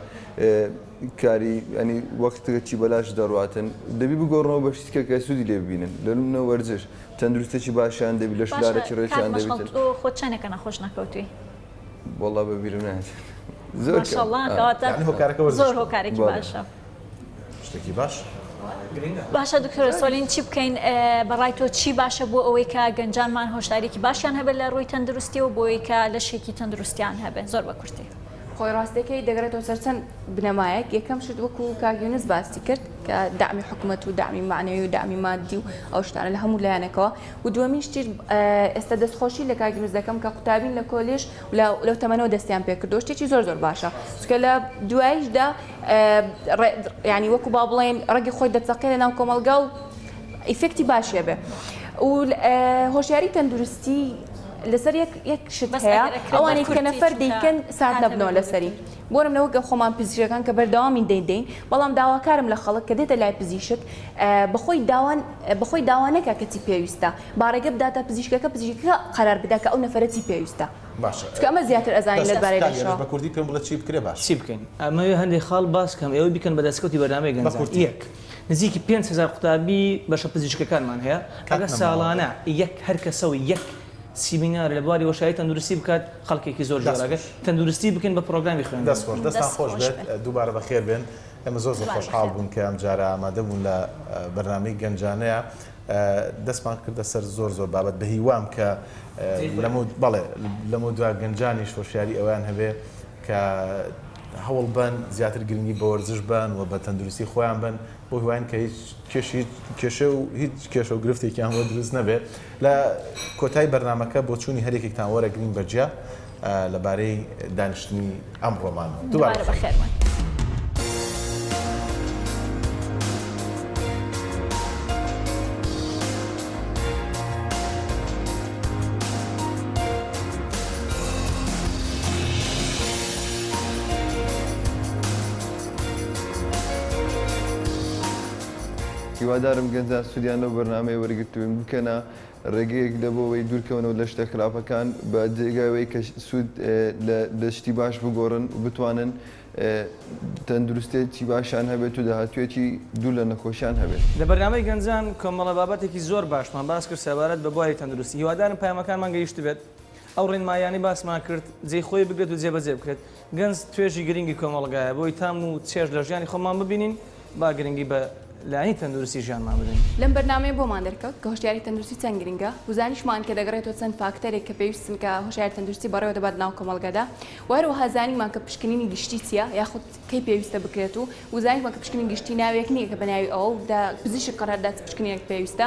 کاری ینی وەختەکەی بەلاش دەڕاتن دەبی بگۆڕنەوە بە شتیکە کە سودی لێ ببینن لە نمونە وەرزش تەندروستێکی باشیان دەبی لەشولارێکی ڕێکیان دەبیتن. باشە کاک مەشخەڵ تۆ خۆت چەنێکە نەخۆش نەکەوتوی؟ وەڵا بەبیرم نایەت زۆر ماشاءاللە کەواتە یعنی هۆکارەکە وەرزشە زۆر هۆکارێکی باشە شتێکی باش باشە دکتۆر سۆلین چی بکەین بەڕای تۆ چی باشە بۆ ئەوەی کە گەنجانمان هۆشداریکی باشیان هەبێت لە ڕووی تەندروستی و بۆی کە لەشێکی تەندروستیان هەبێت زۆر بە کورتی خۆی ڕاستەکەی دەگرێتەوە سەرچەند بنەمایەک یەکەم شت وەکو کاگیونس باسی کرد کە دامی حکوومەت و دامی معنەوی و دامی مادی و ئەو شتانە لە هەموو لایەنەکەوە و دووەمین شتیش ئێستا دەستخۆشی لە کاک یونس دەکەم کە قوتابین لە کۆلێژ لەو تەمەنەوە دەستیان پێ کردووە شتێکی زۆر زۆر باشە چونکە لە دواییشدا یعنی وەکو با بڵێن ڕەگی خۆی دەچەقێ لە ناو کۆمەلگا و ئیفێکتی باشیە بێ و هۆشیاری تەندروستی لەسەر یەک شت هەیە ئەوانی کە نەفەر دیکەن سات نەبنەوە لەسەری بۆرم لەوە گە خۆمان پزیشەکان کە بەردەوامی دەیدەین بەڵام داواکارم لە خەڵک کە دێتە لای پزیشک بەخۆی داوان بەخۆی داوا نەکا کە چی پێویستە باڕێکە بداتە پزیشکەکە پزیشکەکە قەرار بدا کە ئەو نەفەرە چی پێویستە چونکە ئەمە زیاتر ئەزانین لەت بارەی لێشەوە. بە کوردی پێم بڵێ چی بکرێ باشە. چی بکەین؟ ئەمەوێ هەندێک خاڵ باس کەم ئێوە بیکەن بە دەسکەوتی بەرنامەی گەنجان. یەک. نزیکی پێنج هەزار قوتابی بەشە پزیشکەکانمان هەیە ئەگەر ساڵانە یەک هەر کەسە و یەک سیمینار لە بواری وەشایی تەندروستی بکات خەڵکێکی زۆر جۆراگەر تەندروستی بکەین بە پرۆگرامی خوێندن. دەست خۆش دەستان خۆش بێت دووبارە بەخێر بێن. ئێمە زۆر زۆر خۆشحاڵ بوون کە ئەم جارە ئامادە بوون لە بەرنامەی گەنجانەیە دەستمان کردە سەر زۆر زۆر بابەت بە هیوام کە بەڵێ لەمە دوا گەنجانی شۆشیاری ئەویان هەبێ کە هەوڵ بن زیاتر گرنگی بە وەرزش بن و بە تەندروستی خۆیان بن بۆ هیواین کە هیچ کێشی کێشە و هیچ کێشە و گرفتێکیان بۆ دروست نەبێت لە کۆتای بەرنمەکە بۆ چووی هەرێکێکتان وەرەگرین بەجیا لەبارەی دانیشتنی ئەمڕۆمان دووبارە بەخێرمان. هیوادارم گەنجان سودیان لەو بەرنامەیە وەرگرتبن بکەنە ڕێگەیەک دە بۆوەی دوورکەونەوە لە شتە خراپەکان بە جێگای وەی کە سوود لە لە شتی باش بگۆڕن و بتوانن تەندروستێتی باشیان هەبێت و داهاتوویەکی دوور لە نەخۆشیان هەبێت. لە بەرنامەی گەنجان کۆمەڵە بابەتێکی زۆر باشمان باس کرد سەبارەت بە بواری تەندروستی هیوادارم پەیامەکانمان گەیشتبێت ئەو ڕێنماییانەی باسمان کرد جێی خۆی بگرێت و جێبەجێ بکرێت. گەنج توێژی گرنگی کۆمەڵگایە، بۆی تام و چێژ لە ژیانی خۆمان ببینین، با گرنگی بە لایەنی تەندروستی ژیانمان بدەین. لەم بەرنامەیە بۆمان دەرکەوت کە هۆشیاری تەندروستی چەند گرنگە و زانیشمان کە دەگەڕێتەوە چەند فاکتەرێک کە پێویستن کە هۆشیاری تەندروستی بەڕێوە دەبات لەناو کۆمەڵگەدا و هەروەها زانیمان کە پشکنینی گشتی چییە یاخود کەی پێویستە بکرێت و زانیشمان کە پشکنین گشتی ناوێک نییە کە بە ناوی ئەوە و لە پزیشک قەرار بدات چ پشکنینێک پێویستە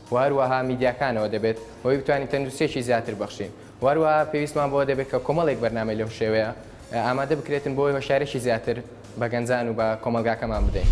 و هەروەها میدیاکانەوە دەبێت بۆی بتوانین تەندروستیەکی زیاتر بەخشین و هەروەها پێویستمان بەوە دەبێت کە کۆمەڵێک بەرنامەی لەو شێوەیە ئامادە بکرێتن بۆی هۆشیارێکی زیاتر بە گەنجان و بە کۆمەلگاکەمان بدەین.